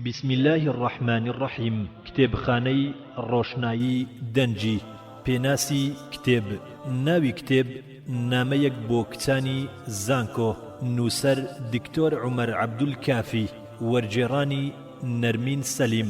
بسم اللە الرحمن الرحیم کتێبخانەی ڕۆشنایی دەنگی پێناسی کتێب ناوی کتێب نامەیەک بۆ کچانی زانکۆ نووسەر دکتۆر عومەر عەبدول کافی وەرگێڕانی نەرمین سەلیم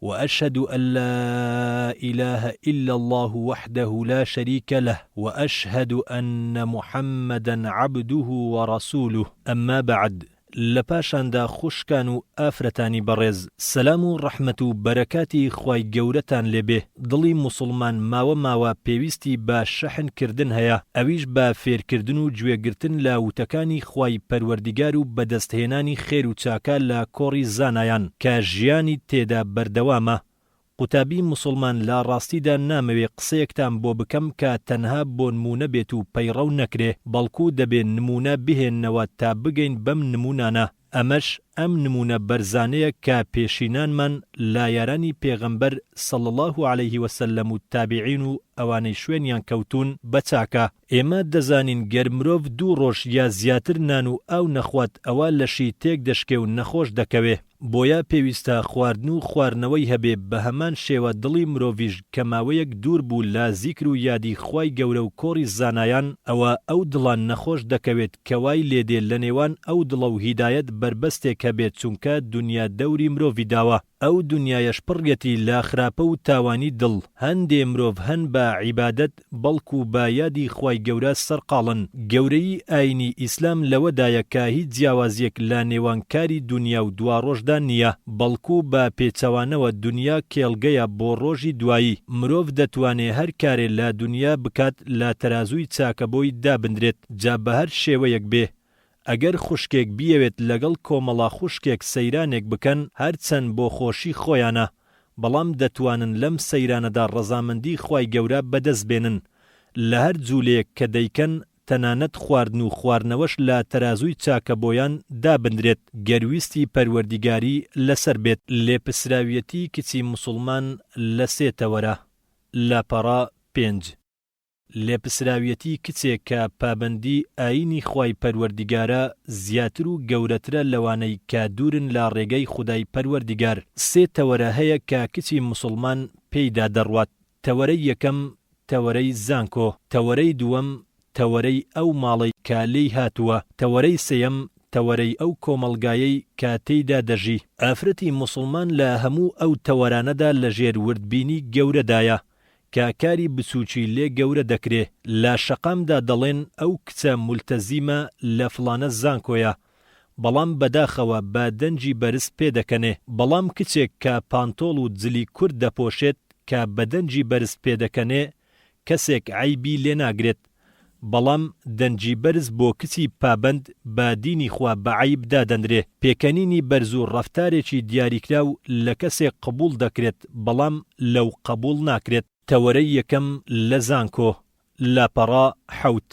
وأشهد أن لا إله إلا الله وحده لا شريك له وأشهد أن محمدا عبده ورسوله أما بعد لە پاشاندا خوشکان و ئافرەتانی بەڕێز سەلام و ڕەحمەت و بەرەکاتی خوای گەورەتان لێ بێ دڵی موسوڵمان ماوە ماوە پێویستی بە شەحن کردن هەیە ئەویش بە فێرکردن و گوێ گرتن لە وتەکانی خوای پەروەردیگار و بەدەست هێنانی خێر و چاکە لە کۆڕی زانایان کە ژیانی تێدا بەردەوامە. قوتابی موسڵمان لە ڕاستیدا نامەوێ قسەیەکتان بۆ بکەم کە تەنها بۆنموونە بێت و پەیڕەو نەکرێ، بەڵکو دەبێ نموونە بهێننەوە تا بگەین بەم نموونانە، ئەمەش ئەم نموونە بەرزانەیە کە پێشینانمان لە یارانی پێغەمبەر صلی اللە علیه وسلم و تابعین و ئەوانەی شوێنیان کەوتوون بە چاکە، ئێمە دەزانین گەر مرۆڤ دوو ڕۆژ یا زیاتر نان و ئاو نەخوات ئەوا لەشی تێک دەشکێ و نەخۆش دەکەوێ بۆیە پێویستە خواردن و خوارنەوەی هەبێ بەهەمان شێوە دڵی مرۆڤیش کە ماوەیەک دوور بوو لە زیکر و یادی خوای گەورە و کۆڕی زانایان ئەوا ئەو دڵە نەخۆش دەکەوێت کە وای لێدێ لەنێوان ئەو دڵە و هیدایەت بەربەستێک هەبێ چونکە دونیا دەوری مرۆڤی داوە ئەو دونیایەش پڕیەتی لە خراپە و تاوانی دڵ، هەندێ مرۆڤ هەن بە عیبادەت بەڵکو بە یادی خوای گەورە سەرقاڵن، گەورەیی ئاینی ئیسلام لەوەدایە کە هیچ جیاوازیەک لە نێوان کاری دونیا و دواڕۆژدا نیە، بەڵکو بە پێچەوانەوە دونیا کێڵگەیە بۆ ڕۆژی دوایی، مرۆڤ دەتوانێ هەر کارێ لە دونیا بکات لە تەرازووی چاکەبۆی دابندرێت جا بەهەر شێوەیەک بێ، ئەگەر خوشکێک بیەوێت لەگەڵ کۆمەڵە خوشکێک سەیرانێک بکەن هەرچەند بۆ خۆشی خۆیانە بەڵام دەتوانن لەم سەیرانەدا ڕەزامەندی خوای گەورە بەدەست بێنن لە هەر جولەیەک کە دەیکەن تەنانەت خواردن و خوارنەوەش لە تەرازووی چاکە بۆیان دابنرێت گەر ویستی پەروەردیگاری لەسەر بێت. لێپسراویەتی کچی موسڵمان لە سێ تەوەرە، لاپەڕە پێنج. لێپسراویەتی کچێک کە پابەندی ئایینی خوای پەروەردیگارە زیاتر و گەورەترە لەوانەی کە دوورن لە ڕێگەی خودای پەروەردیگار، سێ تەوەرە هەیە کە کچی موسڵمان پێیدا دەڕوات، تەوەرەی یەکەم، تەوەرەی زانکۆ، تەوەرەی دووەم، تەوەرەی ئەو ماڵەی کە لێی هاتووە، تەوەرەی سێیەم، تەوەرەی ئەو کۆمەڵگایەی کە تێیدا دەژی. ئافرەتی موسڵمان لە هەموو ئەو تەوەرانەدا لەژێر وردبینی گەورەدایە، کە کاری بچوکی لێ گەورە دەکرێ لە شەقامدا دەڵێن ئەو کچە مولتەزیمە لە فڵانە زانکۆیە بەڵام بەداخەوە بە دەنگی بەرز پێ دەکەنێ بەڵام کچێک کە پانتۆڵ و جلی کورت دەپۆشێت کە بەدەنگی بەرز پێ دەکەنێ کەسێک عەیبی لێ ناگرێت بەڵام دەنگی بەرز بۆ کچی پابەند بە دینی خوا بە عەیب دادەنرێ، پێکەنینی بەرز و ڕەفتارێکی دیاریکراو لە کەسێک قبووڵ دەکرێت بەڵام لەو قبووڵ ناکرێت. تەوەرەی یەکەم لە زانکۆ، لاپەڕە حەوت.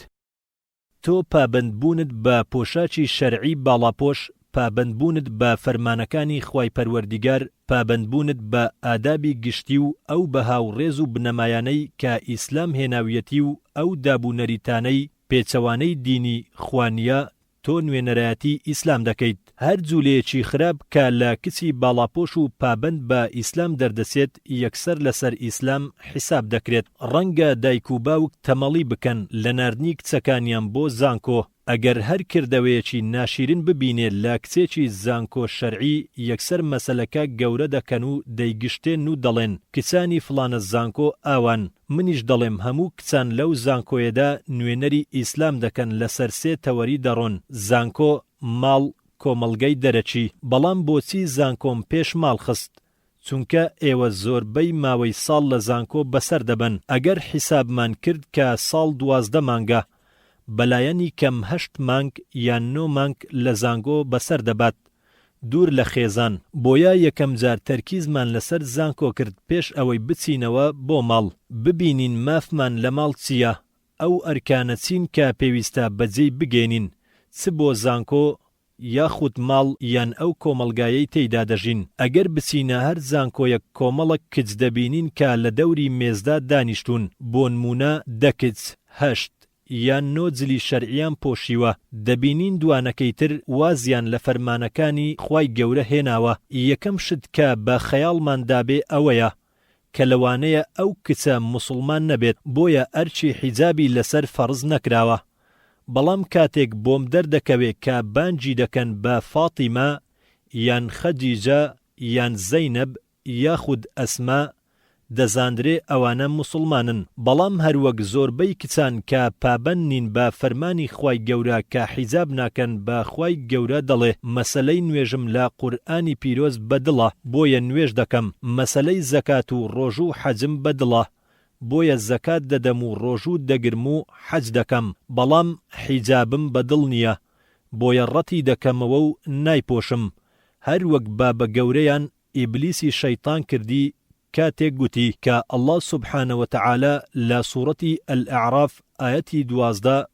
تۆ پابەندبوونت بە پۆشاکی شەرعی باڵاپۆش پابەندبوونت بە فەرمانەکانی خوای پەروەردیگار، پابەندبوونت بە ئادابی گشتی و ئەو بەها و ڕێز و بنەمایانەی کە ئیسلام هێناویەتی و ئەو داب و نەریتانەی پێچەوانەی دینی خوا نییە تۆ نوێنەرایەتی ئیسلام دەکەیت، هەر جولەیەکی خراپ کە لە کچی باڵاپۆش و پابەند بە ئیسلام دەردەچێت یەکسەر لەسەر ئیسلام حیساب دەکرێت، ڕەنگە دایک و باوک تەمەڵی بکەن لە ناردنی کچەکانیان بۆ زانکۆ، ئەگەر هەر کردەوەیەکی ناشیرین ببینێ لە کچێکی زانکۆ شەرعی یەکسەر مەسەلەکە گەورە دەکەن و دەیگشتێن و دەڵێن کچانی فڵانە زانکۆ ئاوان، منیش دەڵێم هەموو کچان لەو زانکۆیەدا نوێنەری ئیسلام دەکەن لەسەر سێ تەوەری دەڕۆن، زانکۆ، ماڵ، کۆمەڵگەی دەرەکی، بەڵام بۆچی زانکۆم پێش ماڵ خست؟ چونکە ئێوە زۆربەی ماوەی ساڵ لە زانکۆ بەسەر دەبەن ئەگەر حیسابمان کرد کە ساڵ دوازدە مانگە بەلایەنی کەم هەشت مانگ یان نۆ مانگ لە زانگۆ بەسەر دەبات دوور لە خێزان بۆیە یەکەم جار تەرکیزمان لەسەر زانکۆ کرد پێش ئەوەی بچینەوە بۆ ماڵ ببینین مافمان لە ماڵ چیە ئەو ئەرکانە چین کە پێویستە بەجێی بگەینین چ بۆ زانکۆ یاخود ماڵ یان ئەو کۆمەڵگایەی تێیدا دەژین، ئەگەر بچینە هەر زانکۆیەک کۆمەڵەک کچ دەبینین کە لە دەوری مێزدا دانیشتوون، بۆنموونە دە کچ، هەشت یان نۆ جلی شەرعیان پۆشیوە، دەبینین دوانەکەی تر وازیان لە فەرمانەکانی خوای گەورە هێناوە، یەکەم شت کە بە خەیاڵمان دابێ ئەوەیە، کە لەوانەیە ئەو کچە موسڵمان نەبێت بۆیە ئەرکی حیجابی لەسەر فەرز نەکراوە بەڵام کاتێک بۆم دەردەکەوێ کە بانگی دەکەن بە فاتیمە یان خەدیجە یان زەینەب یاخود ئەسما دەزانرێ ئەوانە موسڵمانن بەڵام هەروەک زۆربەی کچان کە پابەند نین بە فەرمانی خوای گەورە کە حیجاب ناکەن بە خوای گەورە دەڵێ مەسەلەی نوێژم لە قورئانی پیرۆز بە دڵە بۆیە نوێژ دەکەم مەسەلەی زەکات و ڕۆژو و حەجم بە دڵە بۆیە زەکات دەدەم و ڕۆژو دەگرم و حەج دەکەم بەڵام حیجابم بە دڵ نیە بۆیە ڕەتی دەکەمەوە و نایپۆشم هەر وەک بابە گەورەیان ئیبلیسی شەیتان کردی کاتێک گوتی کە اللە سبحانە وتعالی لە سورەتی الاعراف ئایەتی دوازدە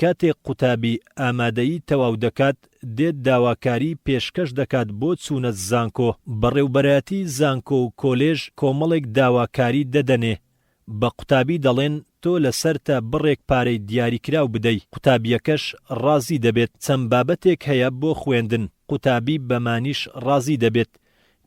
کاتێک قوتابی ئامادەیی تەواو دەکات دێت داواکاری پێشکەش دەکات بۆ چوونە زانکۆ بەڕێوبەرایەتی زانکۆ و کۆلێژ کۆمەڵێک داواکاری دەدەنێ بە قوتابی دەڵێن تۆ لەسەرتە بڕێک پارەی دیاریکراو بدەی قوتابیەکەش ڕازی دەبێت چەند بابەتێک هەیە بۆ خوێندن قوتابی بەمانیش ڕازی دەبێت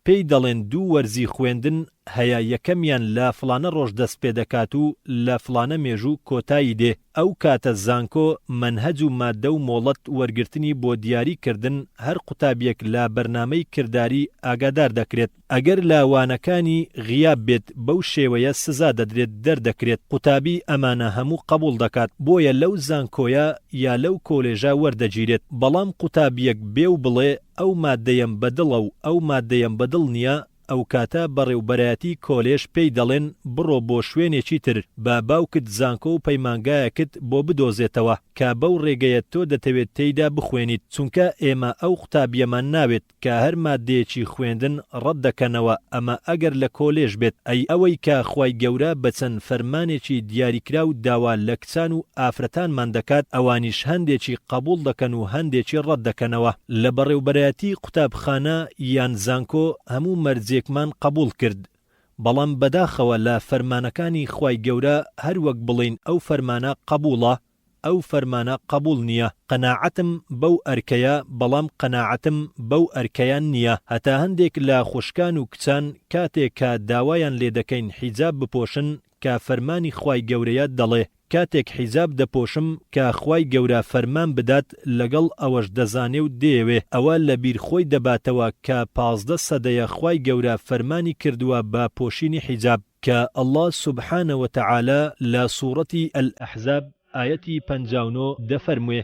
پێی دەڵێن دوو وەرزی خوێندن هەیە یەکەمیان لە فڵانە ڕۆژ دەست پێ دەکات و لە فڵانە مێژوو کۆتایی دێ ئەو کاتە زانکۆ مەنهەج و ماددە و مۆڵەت وەرگرتنی بۆ دیاری کردن هەر قوتابیەک لە بەرنامەی کرداری ئاگادار دەکرێت ئەگەر لە وانەکانی غیاب بێت بەو شێوەیە سزا دەدرێت دەردەکرێت قوتابی ئەمانە هەموو قەبوڵ دەکات بۆیە لەو زانکۆیە یا لەو کۆلێژە وەردەگیرێت بەڵام قوتابیەک بێ و بڵێ ئەو ماددەیەم بە دڵە و ئەو ماددەیەم بە دڵ نییە، ئەوکاتە بەڕێوبەرایەتی کۆلێژ پێی دەڵێن بڕۆ بۆ شوێنێکی تر، با باوکت زانکۆ و پەیمانگایەکت بۆ بدۆزێتەوە، کە بەو ڕێگەیە تۆ دەتەوێت تێیدا بخوێنیت، چونکە ئێمە ئەو قوتابییەمان ناوێت، کە هەر ماددەیەکی خوێندن ڕەت دەکەنەوە، ئەمە ئەگەر لە کۆلێژ بێت، ئەی ئەوەی کە خوای گەورە بە چەند فەرمانێکی دیاریکراو داوا لە کچان و ئافرەتانمان دەکات، ئەوانیش هەندێکی قەبووڵ دەکەن و هەندێکی ڕەت دەکەنەوە. لە بەڕێوبەرایەتی قوتابخانە یان زانکۆ هەموو مەرجێکمان قەبووڵ کرد، بەڵام بەداخەوە لە فەرمانەکانی خوای گەورە هەر وەک بڵێین ئەو فەرمانە قەبووڵە، ئەو فەرمانە قەبووڵ نییە. قەناعەتم بەو ئەرکەیە، بەڵام قەناعەتم بەو ئەرکەیان نییە. هەتا هەندێک لە خوشکان و کچان کاتێک کە داوایان لێ دەکەین حیجاب بپۆشن، کە فەرمانی خوای گەورەیە دەڵێ کاتێک حیجاب دەپۆشم کە خوای گەورە فەرمان بدات لەگەڵ ئەوەش دەزانێ و دەیەوێ ئەوە لە بیر خۆی دەباتەوە کە پازدە سەدەیە خوای گەورە فەرمانی کردووە بە پۆشینی حیجاب کە اللە سبحانە وتعالی لە سوڕەتی الاحزاب ئایەتی پەنجا و نۆ دەفەرموێ.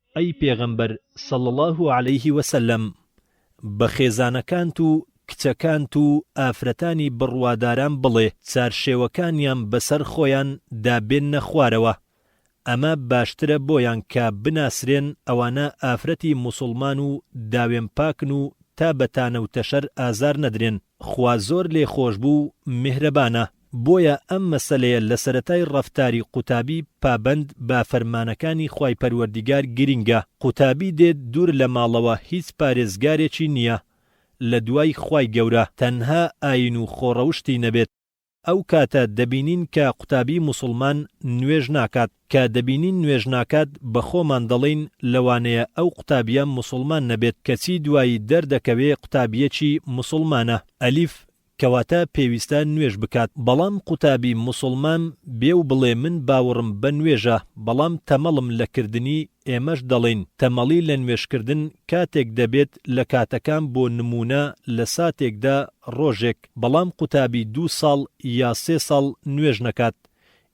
ئەی پێغەمبەر صلی اللە علیە وسلم بە خێزانەکانت و کچەکانت و ئافرەتانی بڕواداران بڵێ چارشێوەکانیان بەسەر خۆیان دا بێننە خوارەوە ئەمە باشترە بۆیان کە بناسرێن ئەوانە ئافرەتی موسوڵمان و داوێن پاکن و تا بە تانە و تەشەر ئازار نەدرێن. خوا زۆر لێ خۆش بوو میهرەبانە بۆیە ئەم مەسەلەیە لە سەرەتای ڕەفتاری قوتابی پابەند بە فەرمانەکانی خوای پەروەردیگار گرینگە قوتابی دێت دوور لە ماڵەوە هیچ پارێزگارێکی نیە لە دوای خوای گەورە تەنها ئاین و خۆڕەوشتی نەبێت ئەو کاتە دەبینین کە قوتابی موسڵمان نوێژ ناکات، کە دەبینین نوێژ ناکات بە خۆمان دەڵێین لەوانەیە ئەو قوتابیە موسڵمان نەبێت کەچی دوایی دەردەکەوێ قوتابیەکی موسڵمانە، ئەلیف، کەواتە پێویستە نوێژ بکات، بەڵام قوتابی موسڵمان بێ و بڵێ من باوڕم بە نوێژە بەڵام تەمەڵم لە کردنی ئێمەش دەڵێین تەمەڵی لە نوێژکردن کاتێک دەبێت لە کاتەکان بۆ نموونە لە ساتێکدا ڕۆژێک بەڵام قوتابی دوو ساڵ یا سێ ساڵ نوێژ نەکات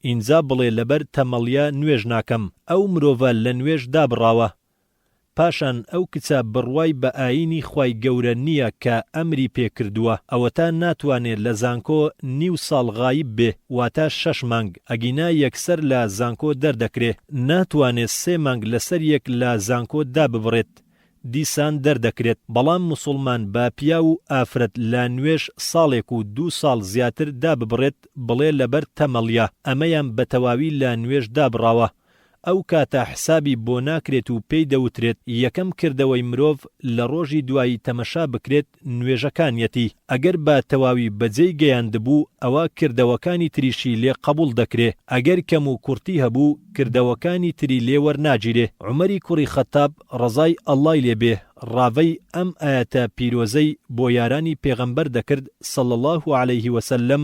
ئینجا بڵێ لەبەر تەمەڵیا نوێژ ناکەم ئەو مرۆڤە لە نوێژ دابڕاوە پاشان ئەو کچە بڕوای بە ئاینی خوای گەورە نییە کە ئەمری پێ کردووە ئەوەتا ناتوانێ لە زانکۆ نیو ساڵ غایب بێ واتا شەش مانگ ئەگینا یەکسەر لە زانکۆ دەردەکرێ ناتوانێ سێ مانگ لەسەر یەک لە زانکۆ داببڕێت دیسان دەردەکرێت بەڵام موسوڵمان با پیاو و ئافرەت لە نوێژ ساڵێک و دوو ساڵ زیاتر داببڕێت بڵێ لەبەر تەمەڵیە ئەمەیان بەتەواوی لە نوێژ دابڕاوە ئەو کاتە حسابی بۆ ناکرێت و پێی دەوترێت یەکەم کردەوەی مرۆڤ لە ڕۆژی دوایی تەمەشا بکرێت نوێژەکانیەتی ئەگەر بە تەواوی بەجێی گەیاندبوو ئەوا کردەوەکانی تریشی لێ قەبوڵ دەکرێ ئەگەر کەم و کورتی هەبوو کردەوەکانی تری لێ وەرناگیرێ عومەری کوڕی خەتاب ڕەزای اللە ی لێ بێ ڕاڤەی ئەم ئایەتە پیرۆزەی بۆ یارانی پێغەمبەر دەکرد صلی اللە علیە وسلم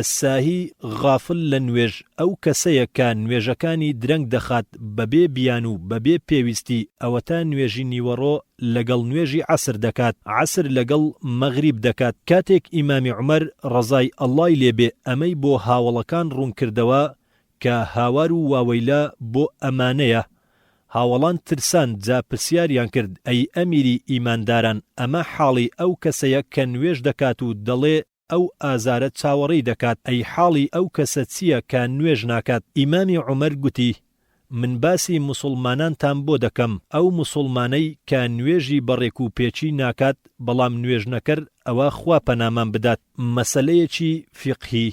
الساهی غافل لە نوێژ ئەو کەسەیە کە نوێژەکانی درەنگ دەخات بەبێ بیان و بەبێ پێویستی ئەوەتا نوێژی نیوەڕۆ لەگەڵ نوێژی عەسر دەکات عەسر لەگەڵ مەغریب دەکات کاتێک ئیمامی عومەر ڕەزای اللەی لێ بێ ئەمەی بۆ هاوەڵەکان ڕوون کردەوە کە هاوار و واوەیلا بۆ ئەمانەیە هاوەڵان ترسان جا پرسیاریان کرد ئەی ئەمیری ئیمانداران ئەمە حاڵی ئەو کەسەیە کە نوێژ دەکات و دەڵێ ئەو ئازارە چاوەڕێی دەکات، ئەی حاڵی ئەو کەسە چییە کە نوێژ ناکات؟ ئیمامی عومەر گوتی، من باسی موسوڵمانانتان بۆ دەکەم، ئەو موسوڵمانەی کە نوێژی بە ڕێک و پێکی ناکات، بەڵام نوێژنەکەر ئەوا خوا پەنامان بدات. مەسەلەیەکی فیقهی،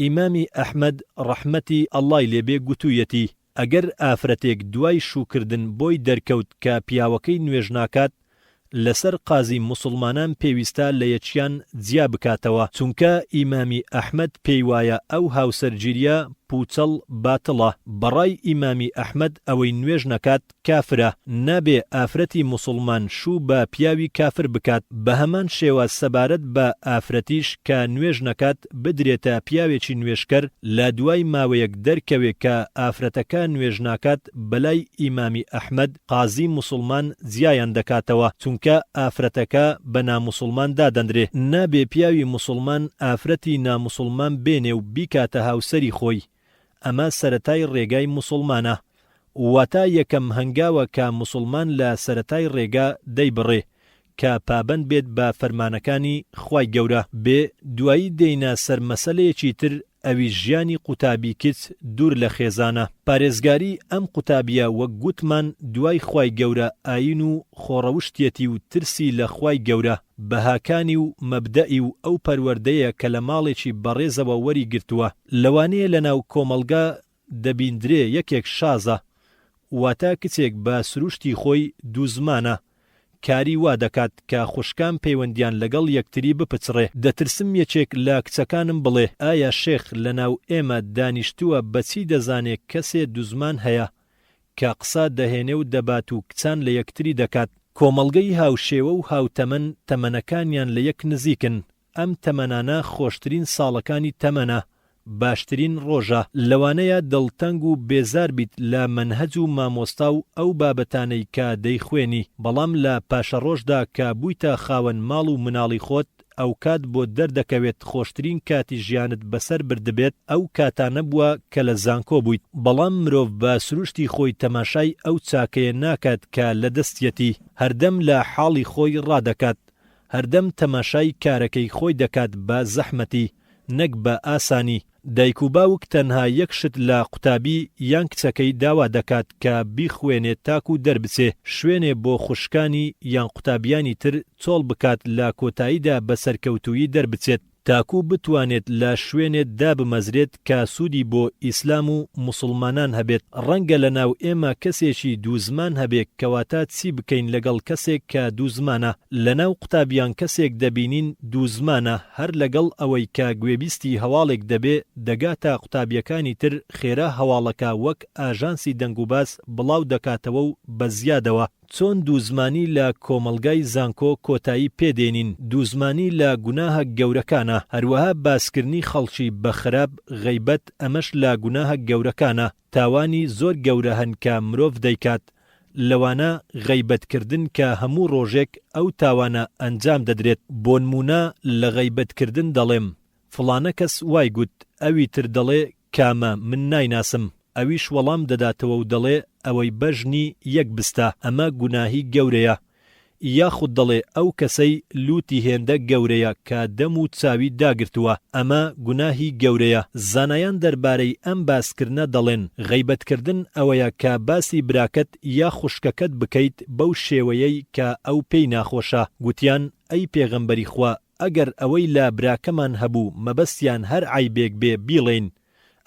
ئیمامی ئەحمەد ڕەحمەتی اللە ی لێ بێ گوتوویەتی، ئەگەر ئافرەتێک دوای شووکردن بۆی دەرکەوت کە پیاوەکەی نوێژ ناکات، لەسەر قازی موسڵمانان پێویستە لەیەکیان جیا بکاتەوە، چونکە ئیمامی ئەحمەد پێیوایە ئەو هاوسەرگیریە پووچەڵ باتڵە، بەڕای ئیمامی ئەحمەد ئەوەی نوێژ نەکات کافرە، نابێ ئافرەتی موسڵمان شوو بە پیاوی کافر بکات، بەهەمان شێوە سەبارەت بە ئافرەتیش کە نوێژ نەکات، بدرێتە پیاوێکی نوێژکەر لە دوای ماوەیەک دەرکەوێ کە ئافرەتەکە نوێژ ناکات بەلای ئیمامی ئەحمەد قازی موسڵمان جیایان دەکاتەوە چونکە ئافرەتەکە بە ناموسڵمان دادەندرێ نابێ پیاوی موسڵمان ئافرەتی ناموسڵمان بێنێ و بیکاتە هاوسەری خۆی ئەمە سەرەتای ڕێگای موسوڵمانە واتا یەکەم هەنگاوە کە موسوڵمان لە سەرەتای ڕێگا دەیبڕێ کە پابەند بێت بە فەرمانەکانی خوای گەورە بێ دوایی دێینە سەر مەسەلەیەکی تر ئەویش ژیانی قوتابی کچ دوور لە خێزانە پارێزگاری ئەم قوتابیە وەک گوتمان دوای خوای گەورە ئاین و خۆڕەوشتیەتی و ترسی لە خوای گەورە بەهاکانی و مەبدەئی و ئەو پەروەردەیە کە لە ماڵێکی بەڕێزەوە وەری گرتووە. لەوانەیە لە ناو کۆمەڵگا دەبیندرێ یەکێک شازە، واتە کچێک بە سروشتی خۆی دوو زمانە، کاری وا دەکات کە خوشکان پەیوەندیان لەگەڵ یەکتری بپچڕێ. دەترسم یەکێک لە کچەکانم بڵێ، ئایا شێخ لە ناو ئێمە دانیشتووە بە چی دەزانێ کەسێ دوو زمان هەیە؟ کە قسە دەهێنێ و دەبات و کچان لە یەکتری دەکات. کۆمەڵگەی هاوشێوە و هاوتەمەن تەمەنەکانیان لە یەک نزیکن، ئەم تەمەنانە خۆشترین ساڵەکانی تەمەنە، باشترین ڕۆژە، لەوانەیە دڵتەنگ و بێزار بیت لە مەنهەج و مامۆستا و ئەو بابەتانەی کە دەیخوێنی، بەڵام لە پاشەڕۆژدا کە بوویتە خاوەن ماڵ و مناڵی خۆت، ئەوکات بۆت دەردەکەوێت خۆشترین کاتی ژیانت بەسەر بردبێت ئەو کاتانە بووە کە لە زانکۆ بوویت بەڵام مرۆڤ بە سروشتی خۆی تەماشای ئەو چاکەیە ناکات کە لە دەستیەتی هەردەم لە حاڵی خۆی ڕادەکات هەردەم تەماشای کارەکەی خۆی دەکات بە زەحمەتی نەک بە ئاسانی دایک و باوک تەنها یەک شت لە قوتابی یان کچەکەی داوا دەکات کە بیخوێنێ تاکو دەربچێ شوێنێ بۆ خوشکانی یان قوتابیانی تر چۆڵ بکات لە کۆتاییدا بە سەرکەوتوویی دەربچێت تاکو بتوانێت لە شوێنێ دابمەزرێت کە سوودی بۆ ئیسلام و موسوڵمانان هەبێت ڕەنگە لە ناو ئێمە کەسێکی دوو زمان هەبێ کەواتە چی بکەین لەگەڵ کەسێک کە دوو زمانە لە ناو قوتابیان کەسێک دەبینین دوو زمانە هەر لەگەڵ ئەوەی کە گوێبیستی هەواڵێک دەبێ دەگاتە قوتابییەکانی تر خێرا هەواڵەکە وەک ئاژانسی دەنگوباس بڵاو دەکاتەوە و بە زیادەوە. چۆن دووزمانی لە کۆمەڵگای زانکۆ کۆتایی پێ دێنین، دووزمانی لە گوناهە گەورەکانە، هەروەها باسکردنی خەڵکی بە خراپ، غەیبەت، ئەمەش لە گوناهە گەورەکانە، تاوانی زۆر گەورە هەن کە مرۆڤ دەیکات، لەوانە غەیبەت کردن کە هەموو ڕۆژێک ئەو تاوانە ئەنجام دەدرێت، بۆنموونە لە غەیبەت کردن دەڵێم فڵانە کەس وای گوت، ئەوی تر دەڵێ کامە من نایناسم، ئەویش وەڵام دەداتەوە و دەڵێ ئەوەی بەژنی یەک بستە، ئەمە گوناهی گەورەیە، یاخود دەڵێ ئەو کەسەی لوتی هێندە گەورەیە کە دەم و چاوی داگرتووە ئەمە گوناهی گەورەیە، زانایان دەربارەی ئەم باسکردنە دەڵێن، غەیبەتکردن ئەوەیە کە باسی براکەت یا خوشکەکەت بکەیت بەو شێوەیەی کە ئەو پێی ناخۆشە، گوتیان، ئەی پێغەمبەری خوا ئەگەر ئەوەی لە براکەمان هەبوو مەبەستیان هەر عەیبێک بێ بیڵێین،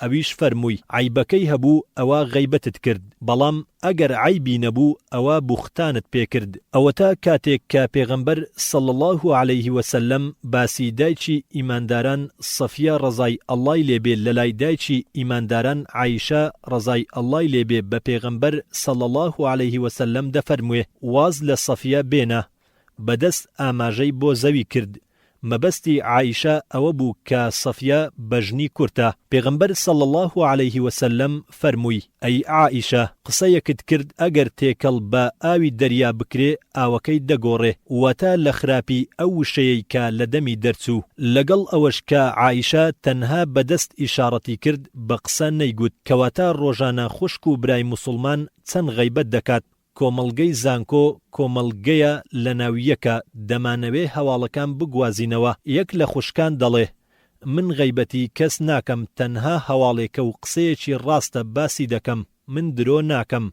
ئەویش فەرمووی، عەیبەکەی هەبوو ئەوا غەیبەتت کرد، بەڵام ئەگەر عەیبی نەبوو ئەوا بوختانت پێ کرد، ئەوەتا کاتێک کە پێغەمبەر صلی اللە علیە وسلم باسی دایکی ئیمانداران صەفیە ڕەزای اللە ی لێ بێ لەلای دایکی ئیمانداران عائیشە ڕەزای اللە ی لێ بێ بە پێغەمبەر صلی اللە علیە وسلم دەفەرموێ واز لە صەفیە بێنە بەدەست ئاماژەی بۆ زەوی کرد، مەبەستی عائیشە ئەوە بوو کە صەفیە بەژنی کورتە، پێغەمبەر صلی اللە علیە وسلم فەرمووی، ئەی عائیشە قسەیەکت کرد ئەگەر تێکەڵ بە ئاوی دەریا بکرێ ئاوەکەی دەگۆڕێ، واتە لە خراپی ئەو وشەیەی کە لە دەمی دەرچوو، لەگەڵ ئەوەش کە عائیشە تەنها بە دەست ئیشاڕەتی کرد بە قسە نەیگوت، کەواتە ڕۆژانە خوشک و برای موسڵمان چەند غەیبەت دەکات، کۆمەڵگەی زانکۆ کۆمەڵگەیە لەناو یەکە دەمانەوێ هەواڵەکان بگوازینەوە یەک لە خوشکان دەڵێ من غەیبەتی کەس ناکەم تەنها هەواڵێکە و قسەیەکی ڕاستە باسی دەکەم من درۆ ناکەم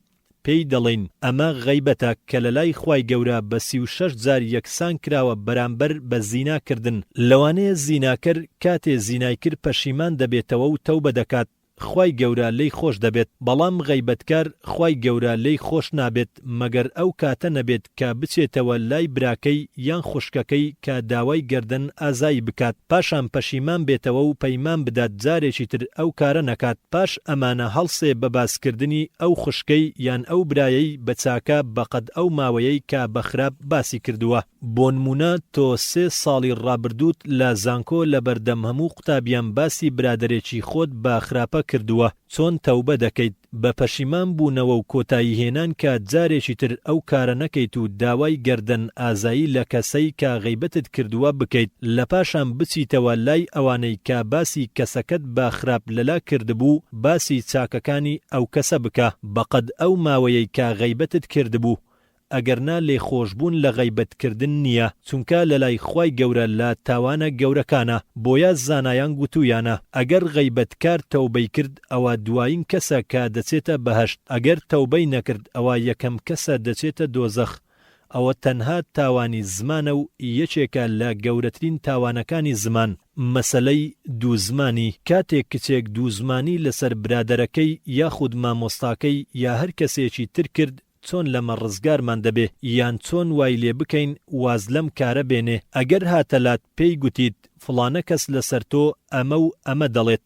پێی دەڵێین ئەمە غەیبەتە کە لەلای خوای گەورە بە سی و شەش جار یەکسان کراوە بەرامبەر بە زینا کردن لەوانەیە زیناکەر کاتێ زینای کرد پەشیمان دەبێتەوە و تەوبە دەکات خوای گەورە لێی خۆش دەبێت بەڵام غەیبەتکار خوای گەورە لێی خۆش نابێت مەگەر ئەو کاتە نەبێت کە بچێتەوە لای براکەی یان خوشکەکەی کە داوای گەردەن ئازایی بکات پاشان پەشیمان بێتەوە و پەیمان بدات جارێکی تر ئەو کارە نەکات پاش ئەمانە هەڵسێ بە باس کردنی ئەو خوشکەی یان ئەو برایەی بە چاکە بەقەد ئەو ماوەیەی کە بە خراپ باسی کردووە. بۆنمونە تۆ سێ ساڵی ڕابردووت لە زانکۆ لەبەردەم هەموو قوتابیان باسی برادەرێکی خۆت بە خراپە کردووە چۆن تەوبە دەکەیت بە پەشیمان بوونەوە و کۆتایی هێنان کە جارێکی تر ئەو کارە نەکەیت و داوای گەردەن ئازایی لە کەسەی کە غەیبەتت کردووە بکەیت لەپاشان بچیتەوە لای ئەوانەی کە باسی کەسەکەت بە خراپ لەلا کردبوو باسی چاکەکانی ئەو کەسە بکە بەقەد ئەو ماوەیەی کە غەیبەتت کردبوو ئەگەر نا لێخۆشبوون لە غەیبەت کردن نیە چونکە لەلای خوای گەورە لە تاوانە گەورەکانە بۆیە زانایان گوتویانە ئەگەر غەیبەت کار تەوبەی کرد ئەوا دوایین کەسە کە دەچێتە بەهەشت ئەگەر تەوبەی نەکرد ئەوا یەکەم کەسە دەچێتە دۆزەخ ئەوە تەنها تاوانی زمانە و یەکێکە لە گەورەترین تاوانەکانی زمان مەسەلەی دوو زمانی کاتێک کچێک دوو زمانی لەسەر برادەرەکەی یاخود مامۆستاکەی یا هەر کەسێکی تر کرد چۆن لەمە ڕزگارمان دەبێ یان چۆن وای لێ بکەین واز لەم کارە بێنێ ئەگەر هاتە لات پێی گوتیت فڵانە کەس لەسەر تۆ ئەمە و ئەمە دەڵێت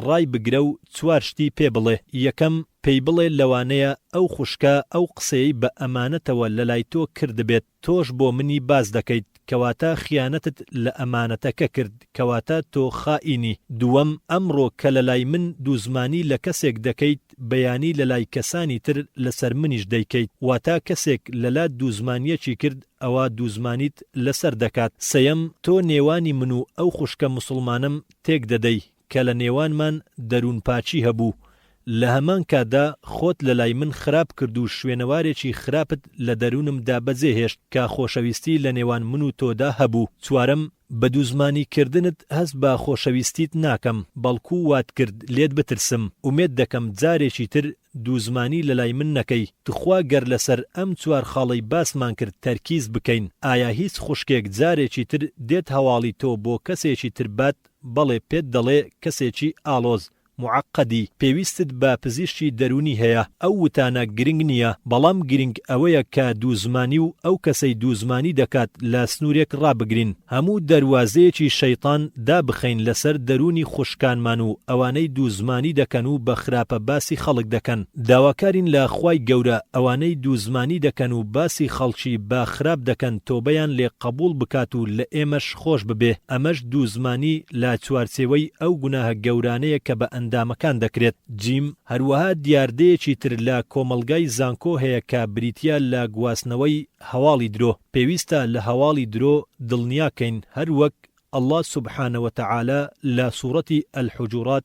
ڕای بگرە و چوار شتی پێ بڵێ یەکەم پێی بڵێ لەوانەیە ئەو خوشکە ئەو قسەیەی بە ئەمانەتەوە لەلای تۆ کردبێت تۆش بۆ منی باس دەکەیت کەواتە خیانەتت لە ئەمانەتەکە کرد کەواتە تۆ خائینی دووەم ئەمڕۆ کە لەلای من دووزمانی لە کەسێک دەکەیت بەیانی لەلای کەسانی تر لەسەر منیش دەیکەیت واتا کەسێک لەلات دووزمانیەکی کرد ئەوا دووزمانیت لەسەر دەکات سێیەم تۆ نێوانی من و ئەو خوشکە موسڵمانەم تێک دەدەی کە لە نێوانمان دەروونپاکی هەبوو، لە هەمان کاتدا خۆت لە لای من خراپ کرد و شوێنەوارێکی خراپت لە دەروونمدا بەجێ هێشت کە خۆشەویستی لە نێوان من و تۆدا هەبوو. چوارەم، بە دووزمانی کردنت هەست بە خۆشەویستیت ناکەم، بەڵکو وات کرد لێت بترسم. ئومێد دەکەم جارێکی تر دووزمانی لە لای من نەکەی. توخوا گەر لە سەر ئەم چوار خاڵەی باسمان کرد تەرکیز بکەین، ئایا هیچ خوشکێک جارێکی تر دێت هەواڵی تۆ بۆ کەسێکی تر بات؟ بەڵێ پێت دەڵێ کەسێکی ئاڵۆز، معقدی، پێویستت بە پزیشکی دەروونی هەیە، ئەو وتانە گرنگ نییە، بەڵام گرنگ ئەوەیە کە دوو زمانی و ئەو کەسەی دوو زمانی دەکات لە سنوورێک ڕابگرین، هەموو دەروازەیەکی شەیتان دابخەین لەسەر دەروونی خوشکانمان و ئەوانەی دوو زمانی دەکەن و بە خراپە باسی خەڵک دەکەن، داواکارین لە خوای گەورە ئەوانەی دوو زمانی دەکەن و باسی خەڵکی بە خراپ دەکەن تۆبەیان لێ قەبووڵ بکات و لە ئێمەش. خۆش ببێ، ئەمەش دوو زمانی لە چوارچێوەی ئەو گوناهە گەورانەیە کە بە ئەندامەکان دەکرێت. جیم، هەروەها دیاردەیەکی تر لە کۆمەڵگای زانکۆ هەیە کە بریتییە لە گواستنەوەی هەواڵی درۆ. پێویستە لە هەواڵی درۆ دڵنیا کەین، هەر وەک اللە سبحانە وتعالی لە سوڕەتی الحجرات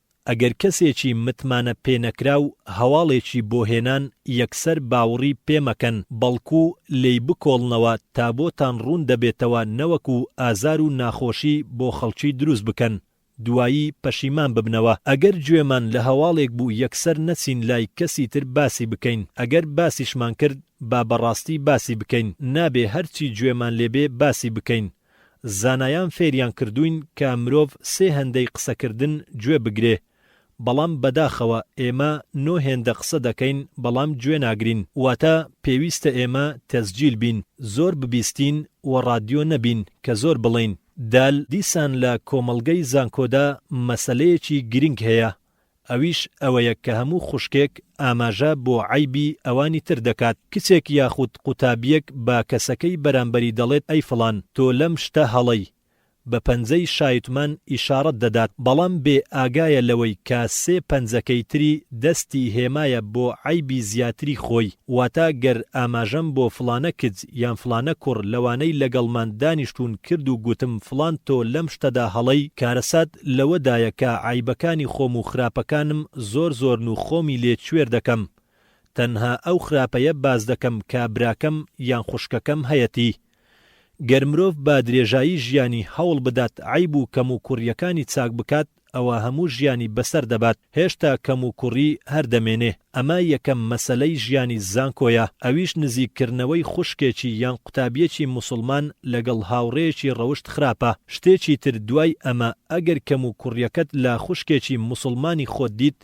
ئەگەر کەسێکی متمانە پێنەکراو هەواڵێکی بۆ هێنان یەکسەر باوڕی پێ مەکەن بەڵکو لێی بکۆڵنەوە تا بۆتان ڕوون دەبێتەوە نەوەکو ئازار و ناخۆشی بۆ خەڵکی دروست بکەن دوایی پەشیمان ببنەوە ئەگەر گوێمان لە هەواڵێک بوو یەکسەر نەچین لای کەسی تر باسی بکەین ئەگەر باسیشمان کرد با بەڕاستی باسی بکەین نابێ هەرچی گوێمان لێ بێ باسی بکەین زانایان فێریان کردووین کە مرۆڤ سێ هێندەی قسەکردن گوێ بگرێ بەڵام بەداخەوە ئێمە نۆ هێندە قسە دەکەین بەڵام گوێ ناگرین واتە پێویستە ئێمە تەسجیل بین زۆر ببیستین و ڕادیۆ نەبین کە زۆر بڵێین دال دیسان لە کۆمەڵگەی زانکۆدا مەسەلەیەکی گرینگ هەیە ئەویش ئەوەیە کە هەموو خوشکێک ئاماژە بۆ عەیبی ئەوانی تر دەکات، کچێک یاخود قوتابییەک بە کەسەکەی بەرامبەری دەڵێت ئەی فڵان تۆ لەم شتە هەڵەی، بە پەنجەی شایتمان ئیشاڕەت دەدات، بەڵام بێ ئاگایە لەوەی کە سێ پەنجەکەی تری دەستی هێمایە بۆ عەیبی زیاتری خۆی، واتە گەر ئاماژەم بۆ فڵانە کچ یان فڵانە کوڕ لەوانەی لەگەڵمان دانیشتوون کرد و گوتم فڵان تۆ لەم شتەدا هەڵەی، کارەسات، لەوە دایە کە عەیبەکانی خۆم و خراپەکانم زۆر زۆرن و خۆمی لێ کوێر دەکەم تەنها ئەو خراپەیە باس دەکەم کە براکەم یان خوشکەکەم هەیەتی گەر مرۆڤ بە درێژایی ژیانی هەوڵ بدات عەیب و کەم و کوڕیەکانی چاک بکات ئەوا هەموو ژیانی بەسەر دەبات هێشتا کەم و کوڕی هەر دەمێنێ. ئەمە یەکەم مەسەلەی ژیانی زانکۆیە، ئەویش نزیک کردنەوەی خوشکێکی یان قوتابیەکی موسڵمان لەگەڵ هاوڕێیەکی ڕەوشت خراپە، شتێکی تر دوای ئەمە ئەگەر کەم و کوڕیەکەت لە خوشکێکی موسڵمانی خۆت دیت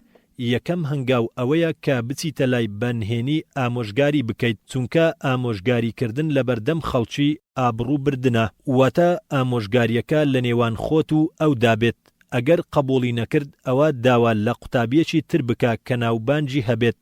یەکەم هەنگاو ئەوەیە کە بچیتە لای بە نهێنی ئامۆژگاری بکەیت چونکە ئامۆژگاری کردن لەبەردەم خەڵکی ئابڕوو بردنە واتە ئامۆژگاریەکە لەنێوان خۆت و ئەودا بێت. ئەگەر قبوڵی نەکرد ئەوا داوا لە قوتابیەکی تر بکە کە ناوبانگی هەبێت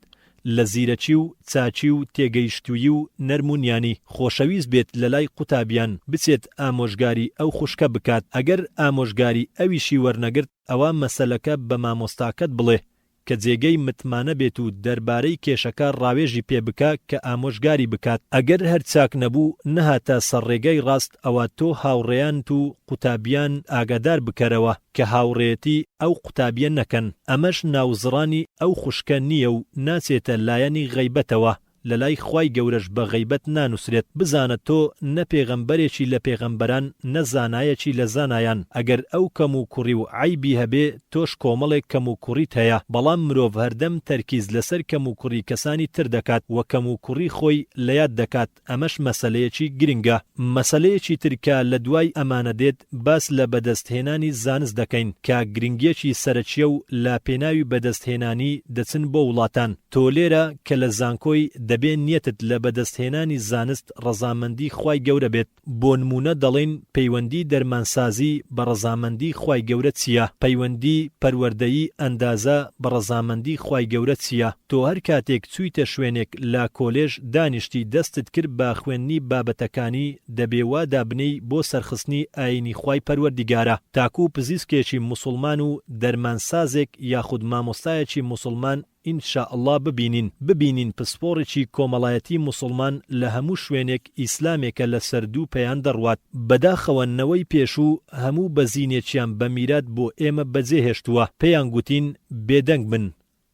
لە زیرەکی و چاکی و تێگەیشتوویی و نەرم و نیانی خۆشەویست بێت لەلای قوتابیان بچێت ئامۆژگاری ئەو خوشکە بکات ئەگەر ئامۆژگاری ئەویشی وەرنەگرت ئەوا مەسەلەکە بە مامۆستاکەت بڵێ کە جێگەی متمانە بێت و دەربارەی کێشەکە ڕاوێژی پێ بکە کە ئامۆژگاری بکات، ئەگەر هەر چاک نەبوو نەهاتە سەر ڕێگای ڕاست ئەوا تۆ هاوڕێیانت و قوتابیان ئاگادار بکەرەوە کە هاوڕێیەتی ئەو قوتابیە نەکەن، ئەمەش ناوزڕانی ئەو خوشکە نییە و ناچێتە لایەنی غەیبەتەوە، لەلای خوای گەورەش بە غەیبەت نانوسرێت بزانە تۆ نە پێغەمبەرێکی لە پێغەمبەران نە زانایەکی لە زانایان ئەگەر ئەو کەم و کوڕی و عەیبی هەبێ تۆش کۆمەڵێک کەم و کوڕیت هەیە بەڵام مرۆڤ هەردەم تەرکیز لەسەر کەم و کوڕی کەسانی تر دەکات وە کەم و کوڕی خۆی لەیاد دەکات ئەمەش مەسەلەیەکی گرنگە. مەسەلەیەکی تر کە لە دوای ئەمانە دێت باس لە بەدەستهێنانی زانست دەکەین کە گرنگیەکی سەرەکیە و لە پێناوی بەدەستهێنانی دەچن بۆ وڵاتان، تۆ لێرە کە لە زانکۆی دەبێ نیەتت لە بەدەستهێنانی زانست ڕەزامەندی خوای گەورە بێت، بۆ نمونە دەڵێین پەیوەندی دەرمانسازی بە ڕەزامەندی خوای گەورە چیە، پەیوەندی پەروەردەیی ئەندازە بە ڕەزامەندی خوای گەورە چیە، تۆ هەر کاتێک چویتە شوێنێک لە کۆلێژ دانیشتی دەستت کرد بە خوێندنی بابەتەکانی دەبێ وا دابنێی بۆ سەرخستنی ئاینی خوای پەروەردیگارە تاکو پزیسکێکی موسوڵمان و دەرمان سازێک یاخود مامۆستایەکی موسوڵمان ان شاء اللە ببینین ببینین پسپۆڕێکی کۆمەڵایەتی موسوڵمان لە هەموو شوێنێک ئیسلامێکە لە سەر دوو پێیان دەڕوات بەداخەوە نەوەی پێشوو هەموو بەزینێکیان بە میرات بۆ ئێمە بەجێ هێشتووە پێیان گوتین بێدەنگ بن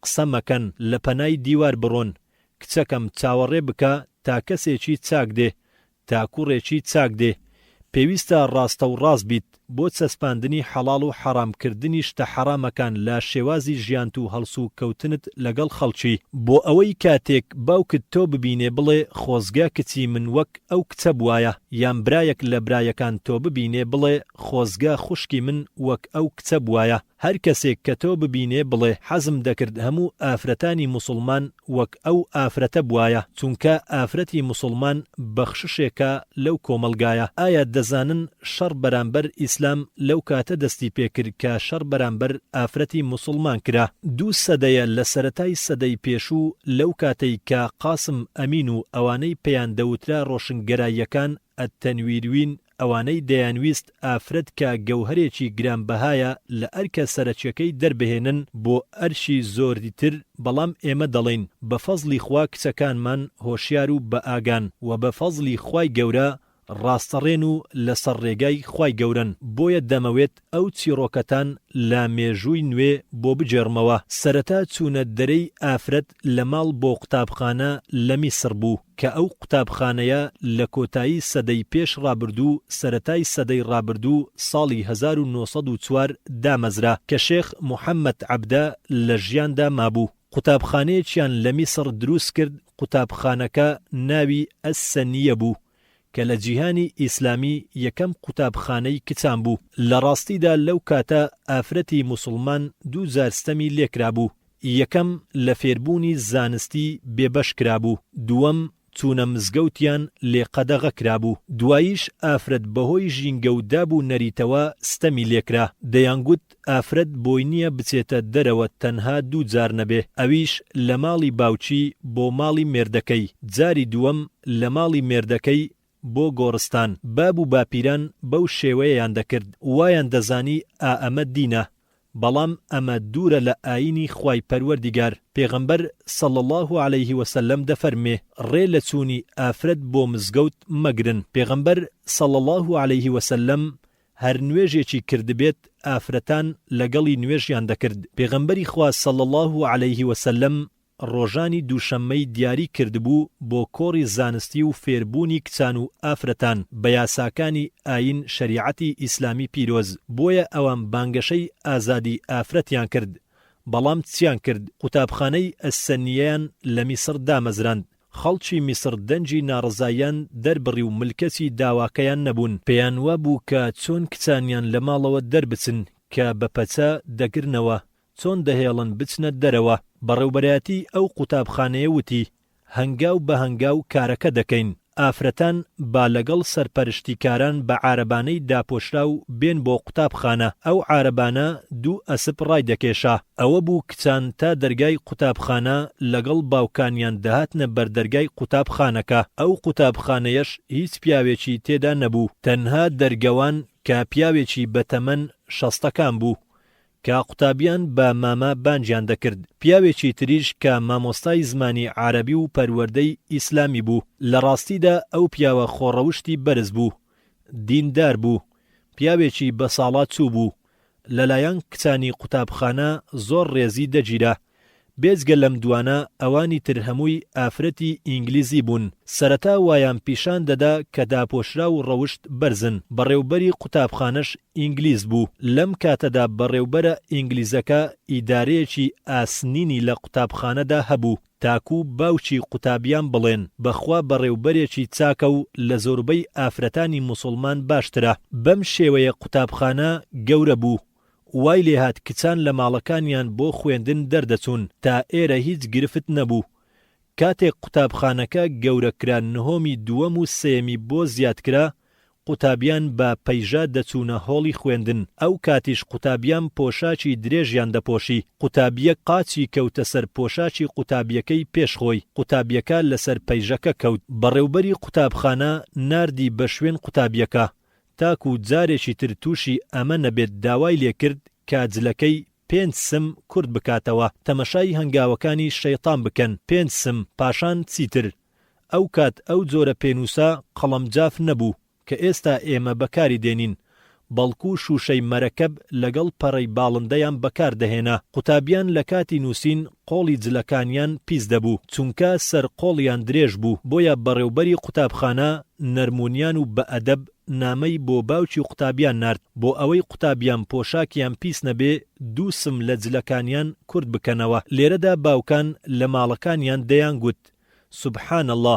قسە مەکەن لە پەنای دیوار بڕۆن کچەکەم چاوەڕێ بکە تا کەسێکی چاک دێ تا کوڕێکی چاک دێ پێویستە ڕاستە و ڕاست بیت بۆ چەسپاندنی حەڵاڵ و حەڕام کردنی شتە حەڕامەکان لە شێوازی ژیانت و هەڵسو کەوتنت لەگەڵ خەڵکی بۆ ئەوەی کاتێک باوکت تۆ ببینێ بڵێ خۆزگە کچی من وەک ئەو کچە بوایە یان برایەک لە برایەکان تۆ ببینێ بڵێ خۆزگە خوشکی من وەک ئەو کچە بوایە هەر کەسێک کە تۆ ببینێ بڵێ حەزم دەکرد هەموو ئافرەتانی موسڵمان وەک ئەو ئافرەتە بوایە چونکە ئافرەتی موسڵمان بەخششێکە لەو کۆمەڵگایە ئایا دەزانن شەڕ بەرامبەر ئیسلام لەو کاتە دەستی پێکرد کە شەڕ بەرامبەر ئافرەتی موسڵمان کرا دوو سەدەیە لە سەرەتای سەدەی پێشوو لەو کاتەی کە قاسم ئەمین و ئەوانەی پێیان دەوترا ڕۆشنگەراییەکان التنویروین ئەوانەی دەیانویست ئافرەت کە گەوهەرێکی گرانبەهایە لە ئەرکە سەرەکیەکەی دەربهێنن بۆ ئەرکی زۆری تر بەڵام ئێمە دەڵێین بە فەزڵی خوا کچەکانمان هۆشیار و بە ئاگان وە بە فەزڵی خوای گەورە ڕاستەڕێن و لەسەر ڕێگای خوای گەورەن بۆیە دەمەوێت ئەو چیڕۆکەتان لە مێژووی نوێ بۆ بگێڕمەوە، سەرەتا چوونە دەرێی ئافرەت لە ماڵ بۆ قوتابخانە لە میسڕ بوو، کە ئەو قوتابخانەیە لە کۆتایی سەدەی پێش ڕابردوو سەرەتای سەدەی ڕابردوو ساڵی هەزار و نۆ سەد و چوار دامەزرا کە شێخ محەمەد عەبدە لە ژیاندا مابوو قوتابخانەیەکیان لە میسڕ دروست کرد قوتابخانەکە ناوی، السنیە، بوو. کە لە جیهانی ئیسلامی یەکەم قوتابخانەی کچان بوو، لە ڕاستیدا لەو کاتە ئافرەتی موسڵمان دوو جار ستەمی لێکرابوو، یەکەم لە فێربوونی زانستی بێبەش کرابوو، دووەم چوونە مزگەوتیان لێ قەدەغە کرابوو، دواییش ئافرەت بەهۆی ژینگە و داب و نەریتەوە ستەمی لێکرا، دەیانگوت، ئافرەت بۆی نیە بچێتە دەرەوە تەنها دوو جار نەبێ ئەویش لە ماڵی باوکی بۆ ماڵی مێردەکەی جاری دووەم لە ماڵی مێردەکەی بۆ گۆڕستان باب و باپیران بەو شێوەیەیان دەکرد وایان دەزانی ئا ئەمە دینە بەڵام ئەمە دوورە لە ئاینی خوای پەروەردیگار پێغەمبەر صلی اللە علیە وسلم دەفەرموێ ڕێ لە چوونی ئافرەت بۆ مزگەوت مەگرن پێغەمبەر صلی اللە علیە وسلم هەر نوێژێکی کردبێت ئافرەتان لەگەڵی نوێژیان دەکرد، پێغەمبەری خوا صلی اللە علیە وسلم ڕۆژانی دووشەممەی دیاری کردبوو بۆ کۆڕی زانستی و فێربوونی کچان و ئافرەتان بە یاساکانی ئاین شەریعەتی ئیسلامی پیرۆز بۆیە ئەوان بانگەشەی ئازادی ئافرەتیان کرد بەڵام چیان کرد قوتابخانەی السنیەیان لە میسڕ دامەزراند خەڵکی میسڕ دەنگی ناڕەزاییان دەربڕی و ملکەچی داواکەیان نەبوون، پێیان وابوو کە چۆن کچانیان لە ماڵەوە دەربچن کە بە پەچە دەگرنەوە، چۆن دەهێڵن بچنە دەرەوە. بەڕێوبەرایەتیی ئەو قوتابخانەیە وتی، هەنگاو بە هەنگاو کارەکە دەکەین. ئافرەتان با لەگەڵ سەرپەرشتیکاران بە عارەبانەی داپۆشراو بێن بۆ قوتابخانە. ئەو عارەبانە دوو ئەسپ ڕایدەکێشا. ئەوە بوو کچان تا دەرگای قوتابخانە لەگەڵ باوکانیان دەهاتنە بەر دەرگای قوتابخانەکە، ئەو قوتابخانەیەش هیچ پیاوێکی تێدا نەبوو، تەنها دەرگەوان کە پیاوێکی بە تەمەن شەستەکان بوو کە قوتابیان بە مامە بانگیان دەکرد، پیاوێکی تریش کە مامۆستای زمانی عارەبی و پەروەردەی ئیسلامی بوو، لە ڕاستیدا ئەو پیاوە خۆڕەوشتی بەرز بوو، دیندار بوو، پیاوێکی بەساڵاچوو بوو، لەلایەن کچانی قوتابخانە زۆر ڕێزی دەگیرا، بێجگە لەم دوانە ئەوانی تر هەمووی ئافرەتی ئینگلیزی بوون، سەرەتا وایان پیشان دەدا کە داپۆشراو و ڕەوشت بەرزن، بەڕێوبەری قوتابخانەش ئینگلیز بوو، لەم کاتەدا بەڕێوبەرە ئینگلیزەکە ئیدارەیەکی ئاسنینی لە قوتابخانەدا هەبوو، تاکوو باوکی قوتابیان بڵێن بەخوا بەڕێوبەرێکی چاکە و لە زۆربەی ئافرەتانی موسوڵمان باشترە. بەم شێوەیە قوتابخانە گەورە بوو. وای لێ هات کچان لە ماڵەکانیان بۆ خوێندن دەردەچوون، تا ئێرە هیچ گرفت نەبوو. کاتێک قوتابخانەکە گەورە کرا نهۆمی دووەم و سێیەمی بۆ زیاد کرا، قوتابیان بە پەیژە دەچوونە هۆڵی خوێندن، ئەو کاتیش قوتابیان پۆشاکی درێژیان دەپۆشی، قوتابییەک قاچی کەوتە سەر پۆشاکی قوتابییەکەی پێش خۆی، قوتابییەکە لەسەر پەیژەکە کەوت، بەڕێوبەری قوتابخانە ناردی بە شوێن قوتابییەکە، تاکو جارێکی تر تووشی ئەمە نەبێت داوای لێ کرد کە جلەکەی، پێنج سم، کورت بکاتەوە، تەمەشای هەنگاوەکانی شەیتان بکەن، پێنج سم، پاشان چیتر. ئەو کات ئەو جۆرە پێنووسە قەڵەم جاف نەبوو کە ئێستا ئێمە بەکاری دێنین، بەڵکوو شووشەی مەرەکەب لەگەڵ پەڕەی باڵندەیان بەکار دەهێنا. قوتابیان لە کاتی نووسین قۆڵی جلەکانیان پیس دەبوو، چونکە سەر قۆڵیان درێژ بوو، بۆیە بەڕێوبەری قوتابخانە نەرمونیان و بە ئەدەب نامەی بۆ باوکی قوتابیان نارد، بۆ ئەوەی قوتابیان پۆشاکیان پیس نەبێ دوو سم لە جلەکانیان کورت بکەنەوە. لێرەدا باوکان لە ماڵەکانیان دەیانگوت، سبحان اللە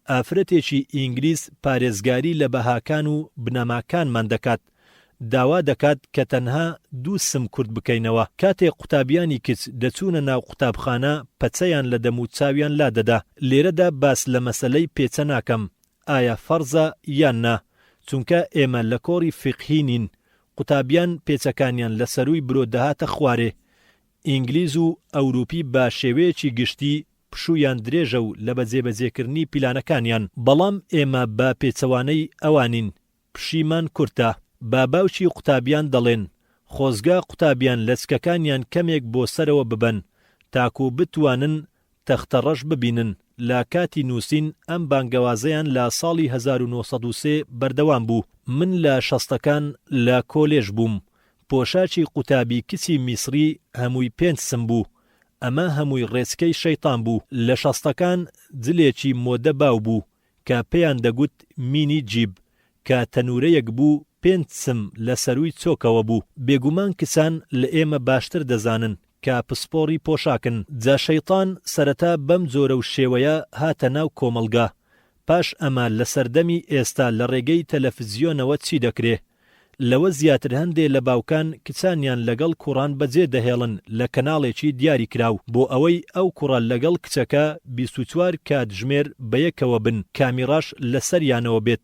ئافرەتێکی ئینگلیز پارێزگاری لە بەهاکان و بنەماکانمان دەکات، داوا دەکات کە تەنها دوو سم کورت بکەینەوە، کاتێک قوتابیانی کچ دەچوونە ناو قوتابخانە پەچەیان لە دەم و چاویان لادەدا، لێرەدا باس لە مەسەلەی پێچە ناکەم ئایا فەرزە یان نا، چونکە ئێمە لە کۆڕی فیقهی نین، قوتابیان پێچەکانیان لە سەرووی برۆ دەهاتە خوارێ، ئینگلیز و ئەوروپی بە شێوەیەکی گشتی پشوویان درێژە و لە بەجێبەجێکردنی پیلانەکانیان، بەڵام ئێمە بە پێچەوانەی ئەوانین، پشیمان کورتە. بە باوکی قوتابیان دەڵێن، خۆزگا قوتابیان لەچکەکانیان کەمێک بۆ سەرەوە ببەن، تاکو بتوانن تەختەڕەش ببینن. لە کاتی نووسین ئەم بانگەوازەیان لە ساڵی هەزار و نۆ سەد و سێ بەردەوام بوو. من لە شەستەکان لە کۆلێژ بووم. پۆشاکی قوتابی کچی میسری هەمووی پێنج سم بوو، ئەمە هەمووی ڕێچکەی شەیتان بوو، لە شەستەکان جلێکی مۆدە باو بوو کە پێیان دەگوت مینی جیب کە تەنوورەیەک بوو پێنج سم لە سەرووی چۆکەوە بوو، بێگومان کچان لە ئێمە باشتر دەزانن کە پسپۆڕی پۆشاکن، جا شەیتان سەرەتا بەم جۆرە و شێوەیە هاتە ناو کۆمەڵگا، پاش ئەمە لە سەردەمی ئێستا لە ڕێگەی تەلەفزیۆنەوە چی دەکرێ؟ لەوە زیاتر هەندێ لە باوکان کچانیان لەگەڵ کوڕان بەجێ دەهێڵن لە کەناڵێکی دیاری کراو بۆ ئەوەی ئەو کوڕە لەگەڵ کچەکە بیست و چوار کاتژمێر بەیەکەوە بن کامیڕاش لەسەریانەوە بێت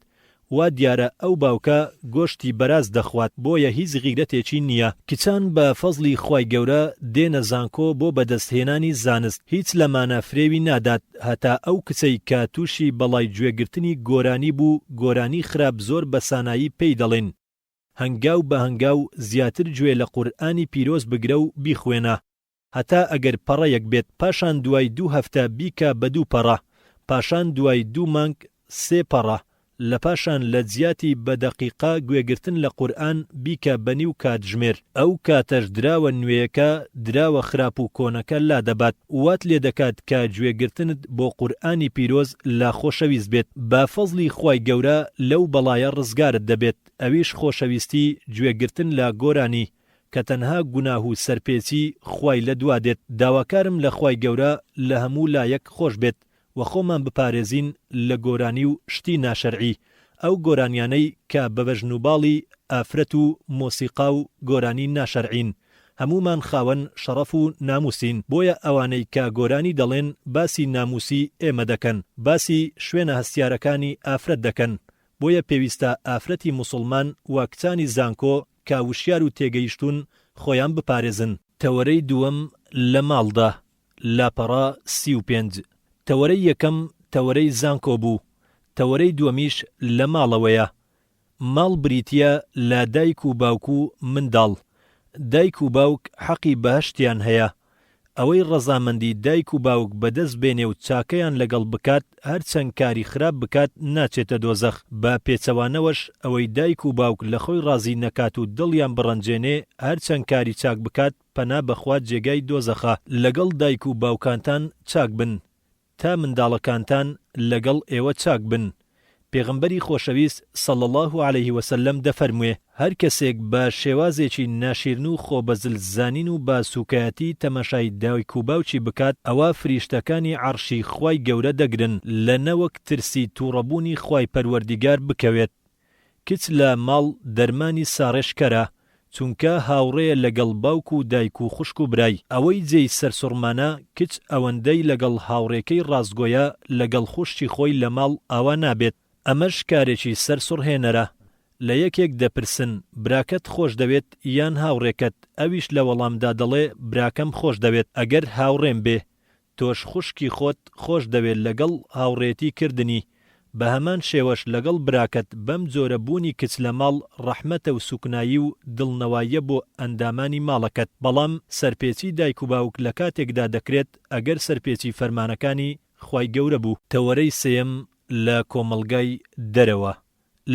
وا دیارە ئەو باوکە گۆشتی بەراز دەخوات بۆیە هیچ غیرەتێکی نیە. کچان بە فەزڵی خوای گەورە دێنە زانکۆ بۆ بەدەست هێنانی زانست هیچ لەمانە فرێوی نادات. هەتا ئەو کچەی کە توشی بەڵای گوێ گرتنی گۆرانی بوو گۆرانی خراپ زۆر بە سانایی پێی دەڵێن هەنگاو بە هەنگاو زیاتر گوێ لە قورئانی پیرۆز بگرە و بیخوێنە هەتا ئەگەر پەڕەیەک بێت پاشان دوای دوو هەفتە بیکە بە دوو پەڕە پاشان دوای دوو مانگ سێ پەڕە، لەپاشان لەجیاتی بە دەقیقە گوێگرتن لە قورئان بیکە بە نیو کاتژمێر، ئەو کاتەش دراوە نوێیەکە دراوە خراپ و کۆنەکە لادەبات، وات لێدەکات کە گوێگرتنت بۆ قورئانی پیرۆز لا خۆشەویست بێت، بە فەزڵی خوای گەورە لەو بەڵایە ڕزگارت دەبێت، ئەویش خۆشەویستی گوێگرتن لە گۆرانی کە تەنها گوناه و سەرپێچی خوای لەدوا دێت، داواکارم لە خوای گەورە لە هەموو لایەک خۆشبێت، و خۆمان بپارێزین لە گۆرانی و شتی ناشەرعی، ئەو گۆرانیانەی کە بە بەژن و باڵی ئافرەت و مۆسیقا و گۆرانی ناشەرعین، هەموومان خاوەن شەڕەف و نامووسین، بۆیە ئەوانەی کە گۆرانی دەڵێن باسی نامووسی ئێمە دەکەن، باسی شوێنە هەستیارەکانی ئافرەت دەکەن، بۆیە پێویستە ئافرەتی موسوڵمان و کچانی زانکۆ کە وشیار و تێگەیشتوون خۆیان بپارێزن. تەوەرەی دووەم، لە ماڵدا لاپەڕە سی و پێنج، تەوەرەی یەکەم تەوەرەی زانکۆ بوو، تەوەرەی دووەمیش لە ماڵەوەیە. ماڵ بریتییە لە دایک و باوک و منداڵ. دایک و باوک حەقی بەهەشتیان هەیە. ئەوەی ڕەزامەندی دایک و باوک بەدەست بێنێ و چاکەیان لەگەڵ بکات هەرچەند کاری خراپ بکات ناچێتە دۆزەخ، بە پێچەوانەوەش ئەوەی دایک و باوک لەخۆی ڕازی نەکات و دڵیان بڕەنجێنێ هەرچەند کاری چاک بکات، پەنا بەخوا جێگای دۆزەخە. لەگەڵ دایک و باوکانتان چاک بن تا منداڵەکانتان لەگەڵ ئێوە چاک بن پێغەمبەری خۆشەویست صلی اللە علیە وسلم دەفەرموێ، هەر کەسێک بە شێوازێکی ناشیرن و خۆ بە زل زانین و بە سوکایەتی تەماشای دایک و باوکی بکات ئەوا فریشتەکانی عەڕشی خوای گەورە دەگرن لە نەوەک ترسی توڕەبوونی خوای پەروەردیگار بکەوێت کچ لە ماڵ دەرمانی ساڕێژکەرە چونکە هاوڕێیە لەگەڵ باوک و دایک و خوشک و برای، ئەوەی جێی سەرسوڕمانە کچ ئەوەندەی لەگەڵ هاوڕێکەی ڕاستگۆیە لەگەڵ خوشکی خۆی لە ماڵ ئاوا نابێت ئەمەش کارێکی سەر سوڕهێنەرە لە یەکێک دەپرسن براکەت خۆش دەوێت یان هاوڕێکەت ئەویش لە وەڵامدا دەڵێ براکەم خۆش دەوێت ئەگەر هاوڕێم بێ تۆش خوشکی خۆت خۆش دەوێت لەگەڵ هاوڕێتی کردنی بە هەمان شێوەش لەگەڵ براکەت بەم جۆرە بوونی کچ لە ماڵ ڕەحمەتە و سوکنایی و دڵنەواییە بۆ ئەندامانی ماڵەکەت بەڵام سەرپێچی دایک و باوک لە کاتێکدا دەکرێت ئەگەر سەرپێچی فەرمانەکانی خوای گەورە بوو. تەوەرەی سێیەم لە کۆمەڵگای دەرەوە،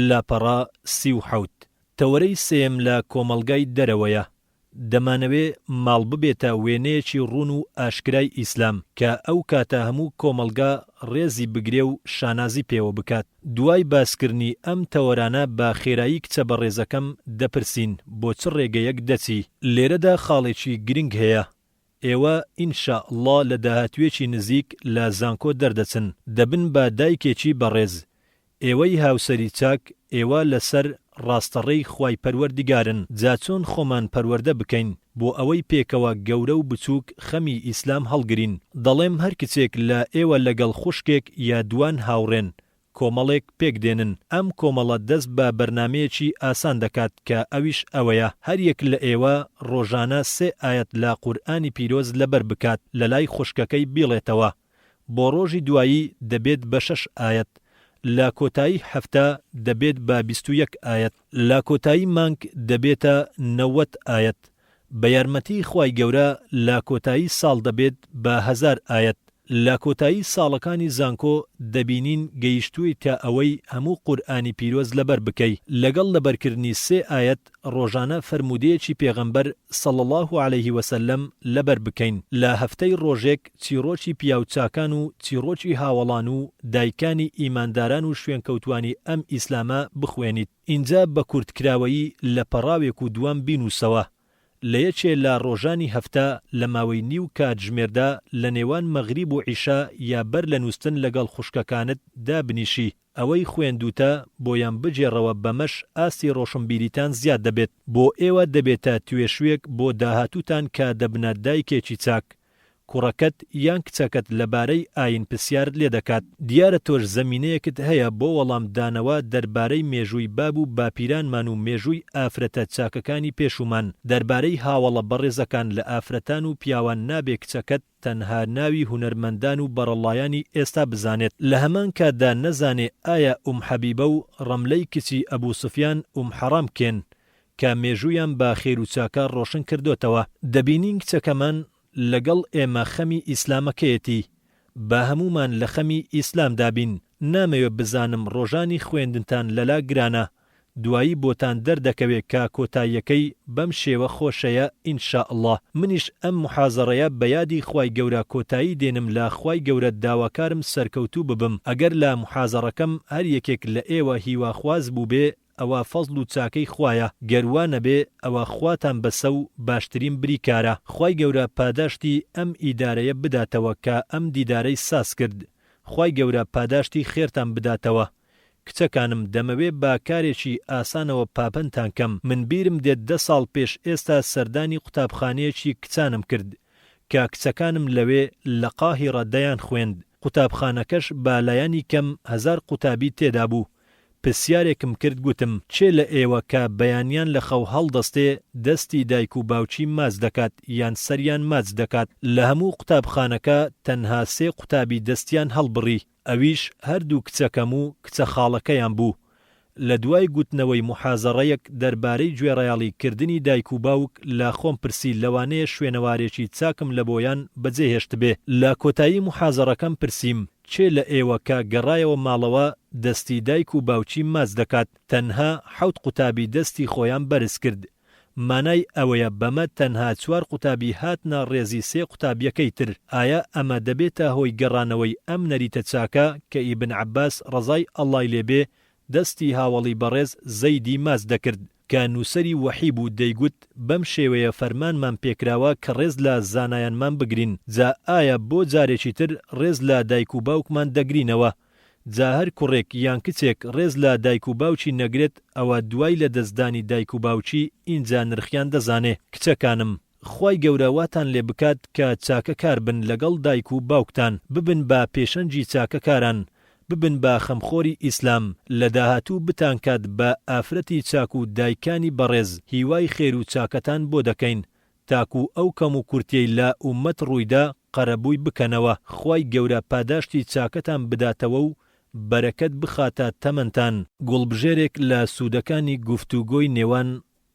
لاپەڕە سی و حەوت. تەوەرەی سێیەم لە کۆمەڵگای دەرەوەیە، دەمانەوێ ماڵ ببێتە وێنەیەکی ڕوون و ئاشکرای ئیسلام کە ئەو کاتە هەموو کۆمەڵگا ڕێزی بگرێ و شانازی پێوە بکات. دوای باسکردنی ئەم تەوەرانە بە خێرایی کچە بەڕێزەکەم دەپرسین بۆ چ ڕێگەیەک دەچی؟ لێرەدا خاڵێکی گرنگ هەیە ئێوە ان شاء اللە لە داهاتوویەکی نزیک لە زانکۆ دەردەچن دەبن بە دایکێکی بەڕێز ئێوەی هاوسەری چاک ئێوە لەسەر ڕاستەڕێی خوای پەروەردگارن جا چۆن خۆمان پەروەردە بکەین بۆ ئەوەی پێکەوە گەورە و بچووک خەمی ئیسلام هەڵگرین دەڵێم هەر کچێک لە ئێوە لەگەڵ خوشکێک یا دووان هاوڕێن کۆمەڵێک پێک دێنن، ئەم کۆمەڵە دەست بە بەرنامەیەکی ئاسان دەکات کە ئەویش ئەوەیە هەر یەک لە ئێوە ڕۆژانە سێ ئایەت لە قورئانی پیرۆز لەبەر بکات لەلای خوشکەکەی بیڵێتەوە بۆ ڕۆژی دوایی دەبێت بە شەش ئایەت لە کۆتایی هەفتە دەبێت بە بیست و یەک ئایەت لە کۆتایی مانگ دەبێتە نەوەت ئایەت بە یارمەتیی خوای گەورە لە کۆتایی ساڵ دەبێت بە هەزار ئایەت، لە کۆتایی ساڵەکانی زانکۆ دەبینین گەیشتوویتە ئەوەی هەموو قورئانی پیرۆز لەبەر بکەی، لەگەڵ لەبەرکردنی سێ ئایەت ڕۆژانە فەرموودەیەکی پێغەمبەر صلی اللە علیه وسلم لەبەر بکەین، لە هەفتەی ڕۆژێک چیڕۆکی پیاو چاکان و چیڕۆکی هاوەڵان و دایکانی ئیمانداران و شوێنکەوتوانی ئەم ئیسلامە بخوێنیت. ئینجا بە کورت کراوەیی لە پەڕاوێک و دووان بینووسەوە، لە یەکێ لە ڕۆژانی هەفتە لە ماوەی نیو کاتژمێردا لە نێوان مەغریب و عیشا یا بەر لە نووستن لەگەڵ خوشکەکانت دابنیشی، ئەوەی خوێندووتە بۆیان بگێڕەوە بەمەش ئاستی ڕۆشنبیریتان زیاد دەبێت. بۆ ئێوە دەبێتە توێشوێک بۆ داهاتووتان کە دەبنە دایکێکی چاک، کوڕەکەت یان کچەکەت لەبارەی ئایین پرسیارت لێ دەکات. دیارە تۆش زەمینەیەکت هەیە بۆ وەڵام دانەوە دەربارەی مێژووی باب و باپیرانمان و مێژووی ئافرەتە چاکەکانی پێشوومان، دەربارەی هاوەڵە بەڕێزەکان لە ئافرەتان و پیاوان نابێ کچەکەت تەنها ناوی هونەرمەندان و بەڕەڵڵایانی ئێستا بزانێت لە هەمان کاتدا نەزانێ ئایا ئوم حەبیبە و ڕەملەی کچی ئەبوو سوفیان ئوم حەڕام کێن کە مێژوویان بە خێر و چاکە ڕۆشن کردۆتەوە، دەبینین کچەکەمان لەگەڵ ئێمە خەمی ئیسلامەکەیەتی، با هەموومان لە خەمی ئیسلامدا بین، نامەوێ بزانم ڕۆژانی خوێندنتان لەلا گرانە، دوایی بۆتان دەردەکەوێ کە کۆتاییەکەی بەم شێوە خۆشەیە ان شاء اللە، منیش ئەم محازەڕەیە بە یادی خوای گەورە کۆتایی دێنم لە خوای گەورە داواکارم سەرکەوتوو ببم ئەگەر لە محازەڕەکەم هەر یەکێک لە ئێوە هیواخواز بووبێ ئەوە فەزڵ و چاکەی خوایە گەر وا نەبێ ئەوە خواتان بەسە و باشترین بریکارە خوای گەورە پاداشتی ئەم ئیدارەیە بداتەوە کە ئەم دیدارەی ساز کرد خوای گەورە پاداشتی خێرتان بداتەوە کچەکانم دەمەوێ بە کارێکی ئاسانەوە پاپنتان کەم من بیرم دێت دە ساڵ پێش ئێستا سەردانی قوتابخانەیەکی کچانم کرد کە کچەکانم لەوێ لە قاهیڕە دەیان خوێند قوتابخانەکەش بە لایەنی کەم هەزار قوتابی تێدا بوو پرسیارێکم کرد گوتم کێ لە ئێوە کە بەیانیان لە خەو هەڵدەستێ دەستی دایک و باوکی ماچ دەکات یان سەریان ماچ دەکات لە هەموو قوتابخانەکە تەنها سێ قوتابی دەستیان هەڵبڕی ئەویش هەردوو کچەکەم و کچە خاڵەکەیان بوو لە دوای گوتنەوەی موحازەڕەیەک دەربارەی گوێڕایەڵی کردنی دایک و باوک لە خۆم پرسی لەوانەیە شوێنەوارێکی چاکم لە بۆیان بەجێهێشتبێ لە کۆتایی موحازەڕەکەم پرسیم کێ لە ئێوە کە گەڕایەوە ماڵەوە دەستی دایک و باوکی ماچ دەکات؟ تەنها حەوت قوتابی دەستی خۆیان بەرز کرد. مانای ئەوەیە بەمە تەنها چوار قوتابی هاتنە ڕێزی سێ قوتابیەکەی تر. ئایا ئەمە دەبێتە هۆی گەڕانەوەی ئەم نەریتە چاکە کە ئیبن عەباس ڕەزای اللە ی لێ بێ دەستی هاوەڵی بەڕێز زەیدی ماچ دەکرد؟ کە نووسەری وەحی بوو دەیگوت بەم شێوەیە فەرمانمان پێکراوە کە ڕێز لە زانایانمان بگرین جا ئایا بۆ جارێکی تر ڕێز لە دایک و باوکمان دەگرینەوە جا هەر کوڕێک یان کچێک ڕێز لە دایک و باوکی نەگرێت ئەوە دوای لەدەستدانی دایک و باوکی ئینجا نرخیان دەزانێ کچەکانم خوای گەورە واتان لێ بکات کە چاکە کار بن لەگەڵ دایک و باوکتان ببن بە پێشەنگی چاکە کاران ببن بە خەمخۆری ئیسلام لە داهاتوو بتان کات بە ئافرەتی چاک و دایکانی بەڕێز هیوای خێر و چاکەتان بۆ دەکەین تاکو ئەو کەم و کورتیەی لە ئومەت ڕوویدا قەرەبووی بکەنەوە خوای گەورە پاداشتی چاکەتان بداتەوە و بەرەکەت بخاتە تەمەنتان. گوڵبژێرێک لە سوودەکانی گفتوگۆی نێوان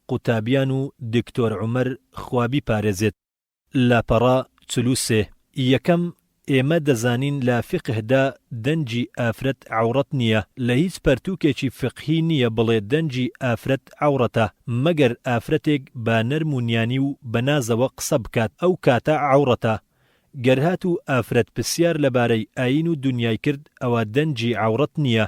قوتابیان و دکتۆر عومەر خوا بیپارێزێت. لاپەڕە چل و سێ، یەکەم، ئێمە دەزانین لە فیقهدا دەنگی ئافرەت عەوڕەت نییە، لە هیچ پەرتووکێکی فیقهی نییە بڵێ دەنگی ئافرەت عەوڕەتە، مەگەر ئافرەتێک بە نەرم و نیانی و بە نازەوە قسە بکات ئەو کاتە عەوڕەتە، گەر هاتوو ئافرەت پرسیار لەبارەی ئایین و دونیای کرد ئەوە دەنگی عەوڕەت نییە.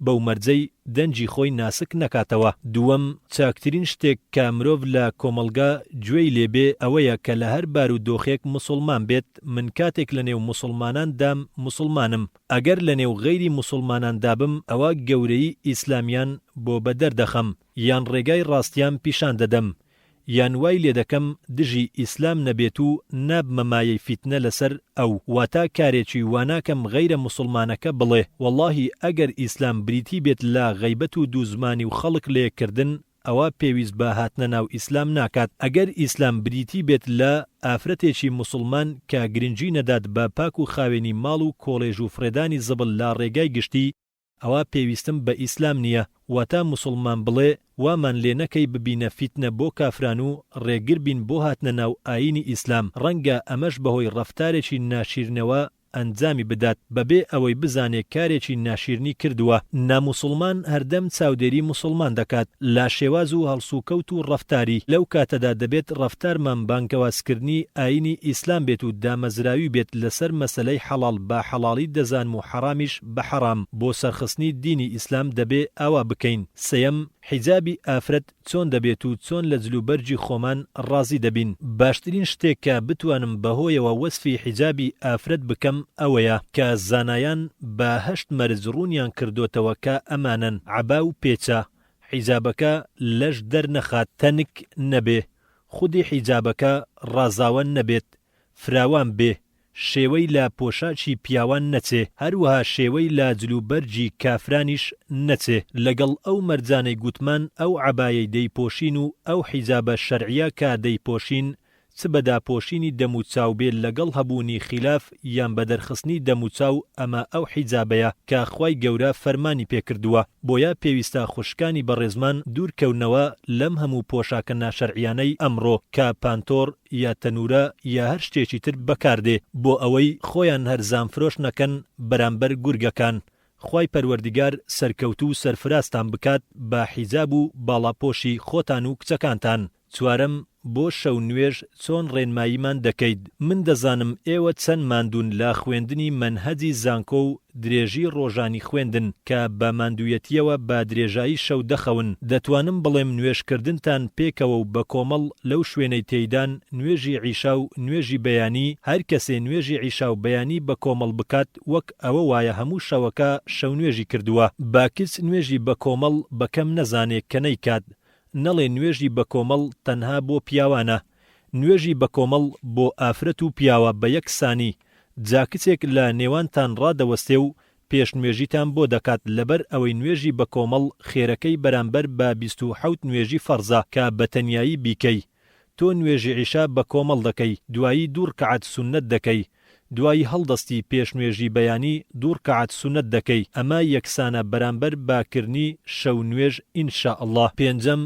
بەو مەرجەی دەنگی خۆی ناسک نەکاتەوە. دووەم، چاکترین شتێک کە مرۆڤ لە کۆمەڵگا گوێی لێ بێ ئەوەیە کە لە هەر بارو دۆخێک موسوڵمان بێت، من کاتێک لە نێو موسوڵمانان دام موسوڵمانم، ئەگەر لە نێو غەیری موسوڵمانان دابم ئەوە گەورەیی ئیسلامیان بۆ بە دەردەخەم. یان ڕێگای ڕاستیام پیشان دەدەم، یان وای لێدەکەم دژی ئیسلام نەبێت و نابمە مایەی فیتنە لەسەر ئەو، واتە کارێکی واناکەم غەیرە موسڵمانەکە بڵێ وەڵاهی ئەگەر ئیسلام بریتی بێت لە غەیبەت و دوو زمانی و خەڵک لەیەک کردن ئەوا پێویست بە هاتنە ناو ئیسلام ناکات، ئەگەر ئیسلام بریتی بێت لە ئافرەتێکی موسڵمان کە گرنگی نەدات بە پاک و خاوێنی ماڵ و کۆڵێژ و فڕێدانی زبڵ لە ڕێگای گشتی، ئەوا پێویستم بە ئیسلام نیە واتا موسوڵمان بڵێ وامان لێ نەکەی ببینە فیتنە بۆ کافران و ڕێگر بین بۆ هاتنە ناو ئاینی ئیسلام ڕەنگە ئەمەش بەهۆی ڕەفتارێکی ناشیرنەوە ئەنجامی بدات بەبێ ئەوەی بزانێ کارێکی ناشیرنی کردوە، ناموسوڵمان هەردەم چاودێری موسوڵمان دەکات لە شێواز و هەڵسوکەوت و ڕەفتاری لەو کاتەدا دەبێت ڕەفتارمان بانگەوازکردنی ئاینی ئیسلام بێت و دامەزراوی بێت لەسەر مەسەلەی حەڵاڵ بە حەڵاڵی دەزانم و حەڕامیش بەحەڕام بۆ سەرخستنی دینی ئیسلام دەبێ ئاوا بکەین سێیەم حیجابی ئافرەت چۆن دەبێت و چۆن لە جلو بەرگی خۆمان ڕازی دەبین باشترین شتێک کە بتوانم بەهۆیەوە وەسفی حیجابی ئافرەت بکەم ئەوەیە کە زانایان بە هەشت مەرج ڕوونیان کردۆتەوە کە ئەمانەن عەبا و پێچە حیجابەکە لەش دەرنەخات تەنک نەبێ خودی حیجابەکە ڕازاوە نەبێت فراوان بێ، شێوەی لە پۆشاکی پیاوان نەچێ، هەروەها شێوەی لە جلوبەرگی کافرانیش نەچێ، لەگەڵ ئەو مەرجانەی گوتمان ئەو عەبایەی دەیپۆشین و ئەو حیجابە شەرعیە کە دەیپۆشین چ بە داپۆشینی دەم و چاو بێ لەگەڵ هەبوونی خیلاف یان بە دەرخستنی دەم و چاو ئەمە ئەو حیجابەیە کە خوای گەورە فەرمانی پێ کردووە بۆیە پێویستە خوشکانی بەڕێزمان دوور کەونەوە لەم هەموو پۆشاکە ناشەرعیانەی ئەمڕۆ کە پانتۆڕ یا تەنورە یا هەر شتێکی تر بەکاردێ بۆ ئەوەی خۆیان هەرزان فرۆش نەکەن بەرامبەر گورگەکان خوای پەروەردگار سەرکەوتو و سەرفرازتان بکات بە حیجاب و باڵاپۆشی خۆتان و کچەکانتان. چوارەم، بۆ شەو نوێژ چۆن ڕێنماییمان دەکەیت؟ من دەزانم ئێوە چەند ماندوون لە خوێندنی مەنهەجی زانکۆ و درێژی ڕۆژانی خوێندن، کە بە ماندوویەتییەوە بە درێژایی شەو دەخەون، دەتوانم بڵێم نوێژکردنتان پێکەوە و بە کۆمەڵ لەو شوێنەی تێیدان، نوێژی عیشا و نوێژی بەیانی، هەر کەسێ نوێژی عیشا و بەیانی بە کۆمەڵ بکات وەک ئەوە وایە هەموو شەوەکە شەونوێژی کردووە. با کچ نوێژی بە کۆمەڵ بە کەم نەزانێ کە نەیکات، نەڵێ نوێژی بە کۆمەڵ تەنها بۆ پیاوانە، نوێژی بەکۆمەڵ بۆ ئافرەت و پیاوە بە یەک سانی، جا کچێک لە نێوانتان ڕادەوەستێ و پێشنوێژیتان بۆ دەکات لەبەر ئەوەی نوێژی بەکۆمەڵ خێرەکەی بەرامبەر بە بیست و حەوت نوێژی فەڕزە کە بە تەنیایی بیکەی تۆ نوێژی عیشا بە کۆمەڵ دەکەی دوایی دوو ڕکەعەت سوننەت دەکەی دوایی هەڵدەستی پێش نوێژی بەیانی دوو ڕکەعەت سوننەت دەکەی ئەمە یەکسانە بەرامبەر بە کردنی شەو نوێژ ان شاءاللە پێنجەم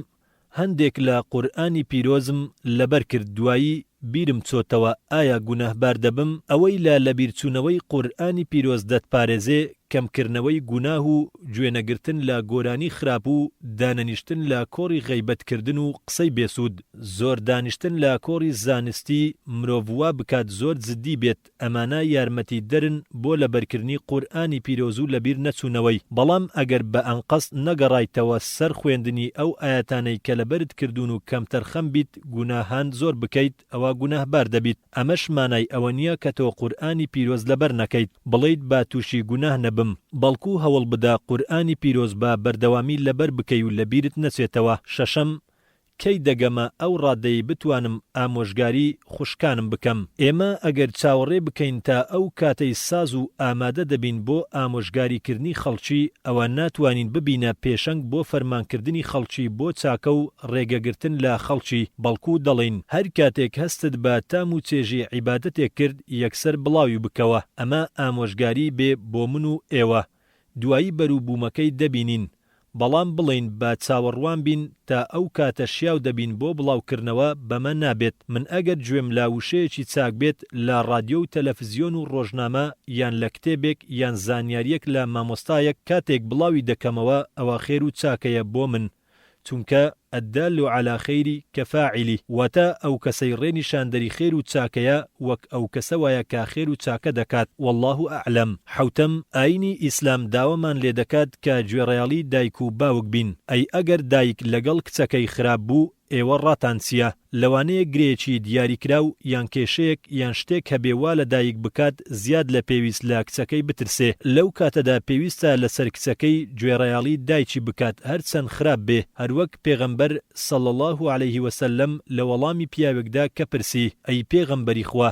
هەندێک لە قورئانی پیرۆزم لەبەر کرد دوایی بیرم چۆتەوە ئایا گوناهبار دەبم، ئەوەی لە لەبیرچونەوەی قورئانی پیرۆز دەتپارێزێ کەم کرنەوەی گوناه و گوێ نەگرتن لە گۆرانی خراپ و دانەنیشتن لە کۆڕی غەیبەت کردن و قسەی بێسود، زۆر دانیشتن لە کۆڕی زانستی مرۆڤ وا بکات زۆر جدی بێت، ئەمانە یارمەتیدەرن بۆ لەبەرکردنی قورئانی پیرۆزو لەبیر نەچونەوەی، بەڵام ئەگەر بە ئەنقەست نەگەڕایتەوە سەر خوێندنی ئەو ئایەتانەی کە لەبەرت کردون و کەمتەرخەم بیت گوناهان زۆر بکەیت ئەوا گوناهبار دەبیت، ئەمەش مانای ئەوە نیە کە تۆ قورئانی پیرۆز لەبەر نەکەیت بڵێیت با توشی گوناه نەبم، بەڵکو هەوڵبدە قورئانی پیرۆز بە بەردەوامی لەبەر بکەی و لەبیرت نەچێتەوە، شەشەم، کەی دەگەمە ئەو ڕادەی بتوانم ئامۆژگاری خوشکانم بکەم؟ ئێمە ئەگەر چاوەڕێ بکەین تا ئەو کاتەی ساز و ئامادە دەبین بۆ ئامۆژگاریکردنی خەڵکی، ئەوا ناتوانین ببینە پێشەنگ بۆ فەرمانکردنی خەڵکی بۆ چاکە و ڕێگەگرتن لە خەڵکی، بەڵکو دەڵێین، هەر کاتێک هەستت بە تام و چێژی عیبادەتێک کرد، یەکسەر بڵاوی بکەوە. ئەمە ئامۆژگاری بێ بۆ من و ئێوە. دوایی بەروبوومەکەی دەبینین. بەڵام بڵێین با چاوەڕوان بین تا ئەو کاتە شیاو دەبین بۆ بڵاو کردنەوە بەمە نابێت، من ئەگەر گوێم لا وشەیەکی چاک بێت لە ڕادیۆ و تەلەفزیۆن و ڕۆژنامە یان لە کتێبێک یان زانیاریەک لە مامۆستایەک کاتێک بڵاوی دەکەمەوە ئەوە خێر و چاکەیە بۆ من چونکە الدال علی خیر کفاعله، واتە، ئەو کەسەی ڕێ نیشاندەری خێر و چاکەیە وەک ئەو کەسە وایە کە خێر و چاکە دەکات، واللە اعلم. حەوتەم، ئایینی ئیسلام داوامان لێ دەکات کە گوێڕایەڵی دایک و باوک بین، ئەی ئەگەر دایک لەگەڵ کچەکەی خراپ بوو ئێوە ڕاتان چییە؟ لەوانەیە گرێیەکی دیاریکراو یان کێشەیەک یان شتێک هەبێ وا لە دایک بکات زیاد لە پێویست لە کچەکەی بترسێ، لەو کاتەدا پێویستە لەسەر کچەکەی گوێڕایەڵی دایکی بکات هەر چەند خراپ بێ، هەر وەک پێغەمبەر، صلی اللە علیه وسلم، لە وەڵامی پیاوێکدا کە پرسی، ئەی پێغەمبەری خوا!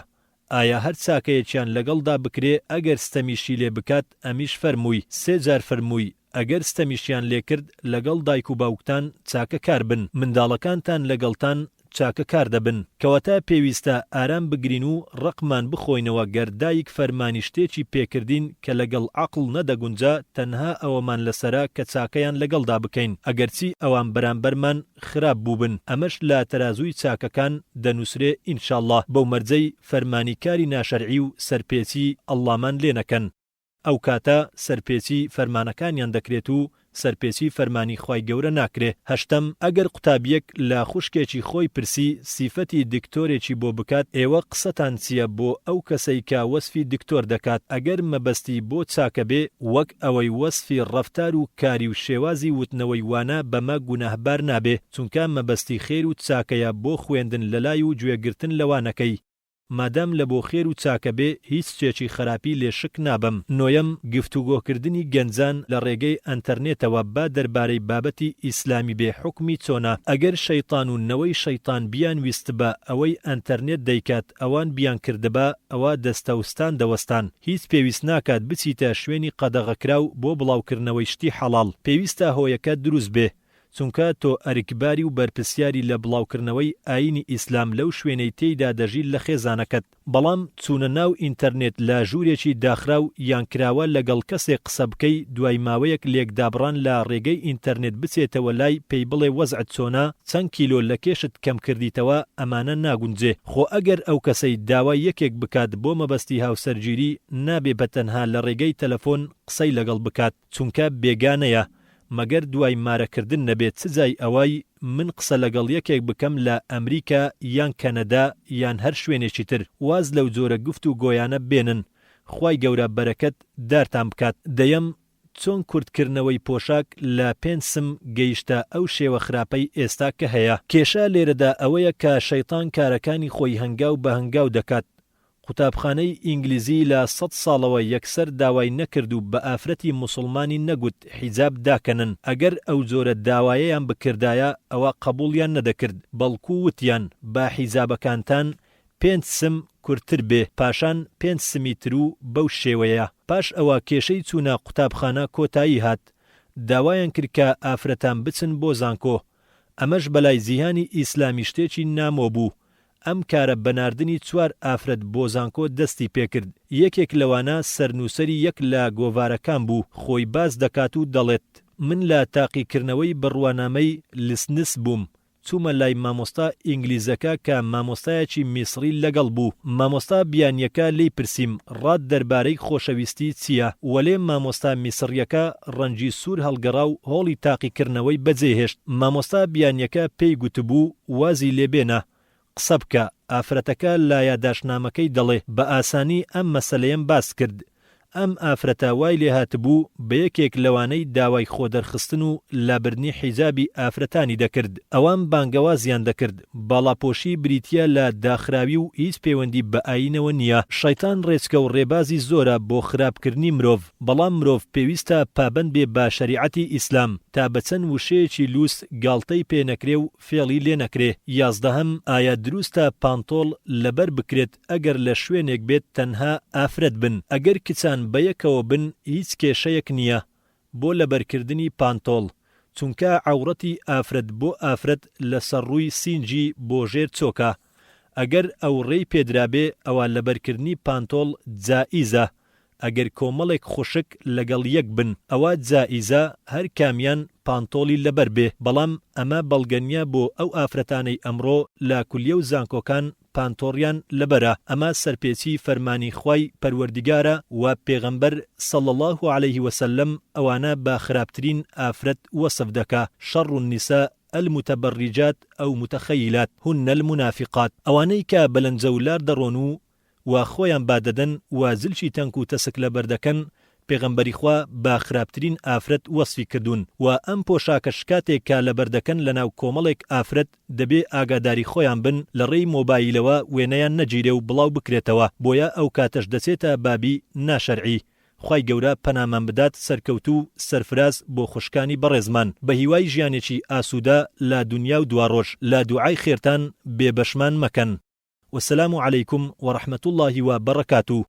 ئایا هەر چاکەیەکیان لەگەڵدا بکرێ ئەگەر ستەمیشی لێ بکات، ئەمیش فەرمووی، سێ جار فەرمووی، ئەگەر ستەمیشیان لێ کرد، لەگەڵ دایک و باوکتان چاکە کار بن، منداڵەکانتان لەگەڵتان چاکە کار دەبن. کەواتە پێویستە ئارام بگرین و ڕقمان بخۆینەوە گەر دایک فەرمانی شتێکی پێ کردین کە لەگەڵ عەقڵ نەدەگونجا تەنها ئەوەمان لەسەرە کە چاکەیان لەگەڵدا بکەین ئەگەرچی ئەوان بەرامبەرمان خراپ بووبن ئەمەش لە تەرازووی چاکەکان دەنووسرێ انشاللە بەو مەرجەی فەرمانی کاری ناشەرعی و سەرپێچی اللەمان لێ نەکەن ئەوکاتە سەرپێچی فەرمانەکانیان دەکرێت و سەرپێچی فەرمانی خوای گەورە ناکرێ هەشتەم ئەگەر قوتابیەک لە خوشکێکی خۆی پرسی سیفەتی دکتۆرێکی بۆ بکات ئێوە قسەتان چیە بۆ ئەو کەسەی کە وەسفی دکتۆر دەکات ئەگەر مەبەستی بۆ چاکەبێ وەک ئەوەی وەسفی ڕەفتار و کاری و شێوازی وتنەوەی وانە بەمە گوناهبار نابێ چونکا مەبەستی خێر و چاکەیە بۆ خوێندن لەلای و گوێ گرتن لە وانەکەی مادام لە بۆ خێر و چاکە بێ هیچ شتێکی خەراپی لێ شک نابەم. نۆیەم، گفتوگۆ کردنی گەنجان لە ڕێگەی ئەنتەرنێتەوە با دەربارەی بابەتی ئیسلامی بێ حوکمی چۆنە؟ ئەگەر شەیتان و نەوەی شەیتان بیانویستبا ئەوەی ئەنتەرنێت دەیکات ئەوان بیانکردبا، ئەوا دەستەوستان دەوەستان هیچ پێویست ناکات بچیتە شوێنی قەدەغەکراو بۆ بڵاوکردنەوەی شتی حەڵاڵ پێویستە هۆیەکە دروست بێ چونکە تۆ ئەرکباری و بەرپرسیاری لە بڵاوکردنەوەی ئاینی ئیسلام لەو شوێنەی تێیدا دەژی لە خێزانەکەت بەڵام چونە ناو ئینتەرنێت لە ژورێکی داخراو یان کراوە لەگەڵ کەسێک قسە بکەی دوای ماوەیەک لێکدابڕان لە ڕێگەی ئینتەرنێت بچێتەوە لای پێی بڵێ وەزعت چۆنە چەند کیلۆ لە کێشت کەم کردیتەوە ئەمانە ناگونجێ خۆ ئەگەر ئەو کەسەی داوای یەکێک بکات بۆ مەبەستی هاوسەرگیری نابێ بە تەنها لە ڕێگەی تەلەفۆن قسەی لەگەڵ بکات چونکە بێگانەیە مەگەر دوای مارە کردن نەبێ چ جای ئەوەی من قسە لەگەڵ یەکێک بکەم لە ئەمریکا یان کەنەدا یان هەر شوێنێکی تر واز لەو جۆرە گفت و گۆیانە بێنن خوای گەورە بەرەکەت دارتان بکات دەیەم چۆن کورت کردنەوەی پۆشاک لە پێنج سم گەیشتە ئەو شێوە خراپەی ئێستا کە هەیە؟ کێشە لێرەدا ئەوەیە کە شەیتان کارەکانی خۆی هەنگاو بە هەنگاو دەکات، قوتابخانەی ئینگلیزی لە سەد ساڵەوە یەکسەر داوای نەکرد و بە ئافرەتی موسڵمانی نەگوت حیجاب داکەنن، ئەگەر ئەو جۆرە داوایەیان بکردایە ئەوا قەبوڵیان نەدەکرد، بەڵکو وتیان با حیجابەکانتان پێنج سم کورتتر بێ پاشان پێنج سمی تر و بەو شێوەیە پاش ئەوە کێشەی چوونە قوتابخانە کۆتایی هات داوایان کرد کە ئافرەتان بچن بۆ زانکۆ ئەمەش بەلای جیهانی ئیسلامی شتێکی نامۆ بوو ئەم کارە بە ناردنی چوار ئافرەت بۆ زانکۆ دەستی پێکرد یەکێک لەوانە سەرنووسەری یەک لە گۆڤارەکان بوو خۆی باس دەکات و دەڵێت من لە تاقیکرنەوەی بڕوانامەی لسنس بووم چوومە لای مامۆستا ئینگلیزەکە کە مامۆستایەکی میسڕی لەگەڵ بوو، مامۆستا بیانییەکە لێی پرسیم، ڕات دەربارەی خۆشەویستی چییە؟ وەلێ مامۆستا میسڕییەکە ڕەنگی سوور هەڵگەڕا و هۆڵی تاقیکردنەوەی بەجێهێشت، مامۆستا بیانییەکە پێی گوتبوو، وازی لێ بێنە، قسە بکە، ئافرەتەکە لە یاداشتنامەکەی دەڵێ، بە ئاسانی ئەم مەسەلەیەم باس کرد. ئەم ئافرەتە وای لێ هاتبوو بە یەکێک لەوانەی داوای خۆدەرخستن و لابردنی حیجابی ئافرەتانی دەکرد. ئەوان بانگەوازیان دەکرد، باڵاپۆشی بریتییە لە داخراوی و هیچ پەیوەندی بە ئایینەوە نییە. شەیتان ڕێچکە و ڕێبازی زۆرە بۆ خراپکردنی مرۆڤ، بەڵام مرۆڤ پێویستە پابەند بێ بە شەریعەتی ئیسلام، تا بە چەند وشەیەکی لووس گاڵتەی پێ نەکرێ و فێڵی لێ نەکرێ. یازدەهەم، ئایا دروستە پانتۆڵ لەبەر بکرێت ئەگەر لە شوێنێک بێت تەنها ئافرەت بن؟ ئەگەر کچان بەیەکەوە بن هیچ کێشەیەک نییە بۆ لەبەرکردنی پانتۆڵ، چونکا عەوڕەتی ئافرەت بۆ ئافرەت لەسەر ڕووی سینگی بۆ ژێر چۆکە، ئەگەر ئەو ڕێی پێدرابێ ئەوا لەبەرکردنی پانتۆڵ جائیزە، ئەگەر کۆمەڵێک خوشک لەگەڵ یەک بن ئەوا جائیزە هەر کامیان پانتۆڵی لەبەر بێ بەڵام ئەمە بەڵگە نیە بۆ ئەو ئافرەتانەی ئەمڕۆ لە کولیەو زانکۆکان پانتۆڕیان لەبەرە ئەمە سەرپێچی فەرمانی خوای پەروەردیگارە وە پێغەمبەر صلی اللە علیە وسلم ئەوانە بە خراپترین ئافرەت وەسف دەکا شر النساء المتبرجات او متخیلات هن المنافقات ئەوانەی کە بەلەنجەو لار دەڕۆن و و خۆیان با دەدەن و زلکی تەنک و تەسک لە بەر دەکەن، پێغەمبەری خوا بە خراپترین ئافرەت وەسفی کردوون و ئەم پۆشاکە شکاتێک کە لە بەر دەکەن لە ناو کۆمەڵێک ئافرەت دەبێ ئاگاداری خۆیان بن لە ڕێی مۆبایلەوە وێنەیان نەگیرێ و بڵاو بکرێتەوە بۆیە ئەو کاتەش دەچێتە بابی ناشەرعی خوای گەورە پەنامان بدات سەرکەوتوو سەرفراز بۆ خوشکانی بەڕێزمان بەهیوای ژیانێکی ئاسوودە لە دونیا و دواڕۆژ لە دوعای خێرتان بێ بەشمان مەکەن وسلام علیکم و رحمتاللە و بەڕەکاتوو.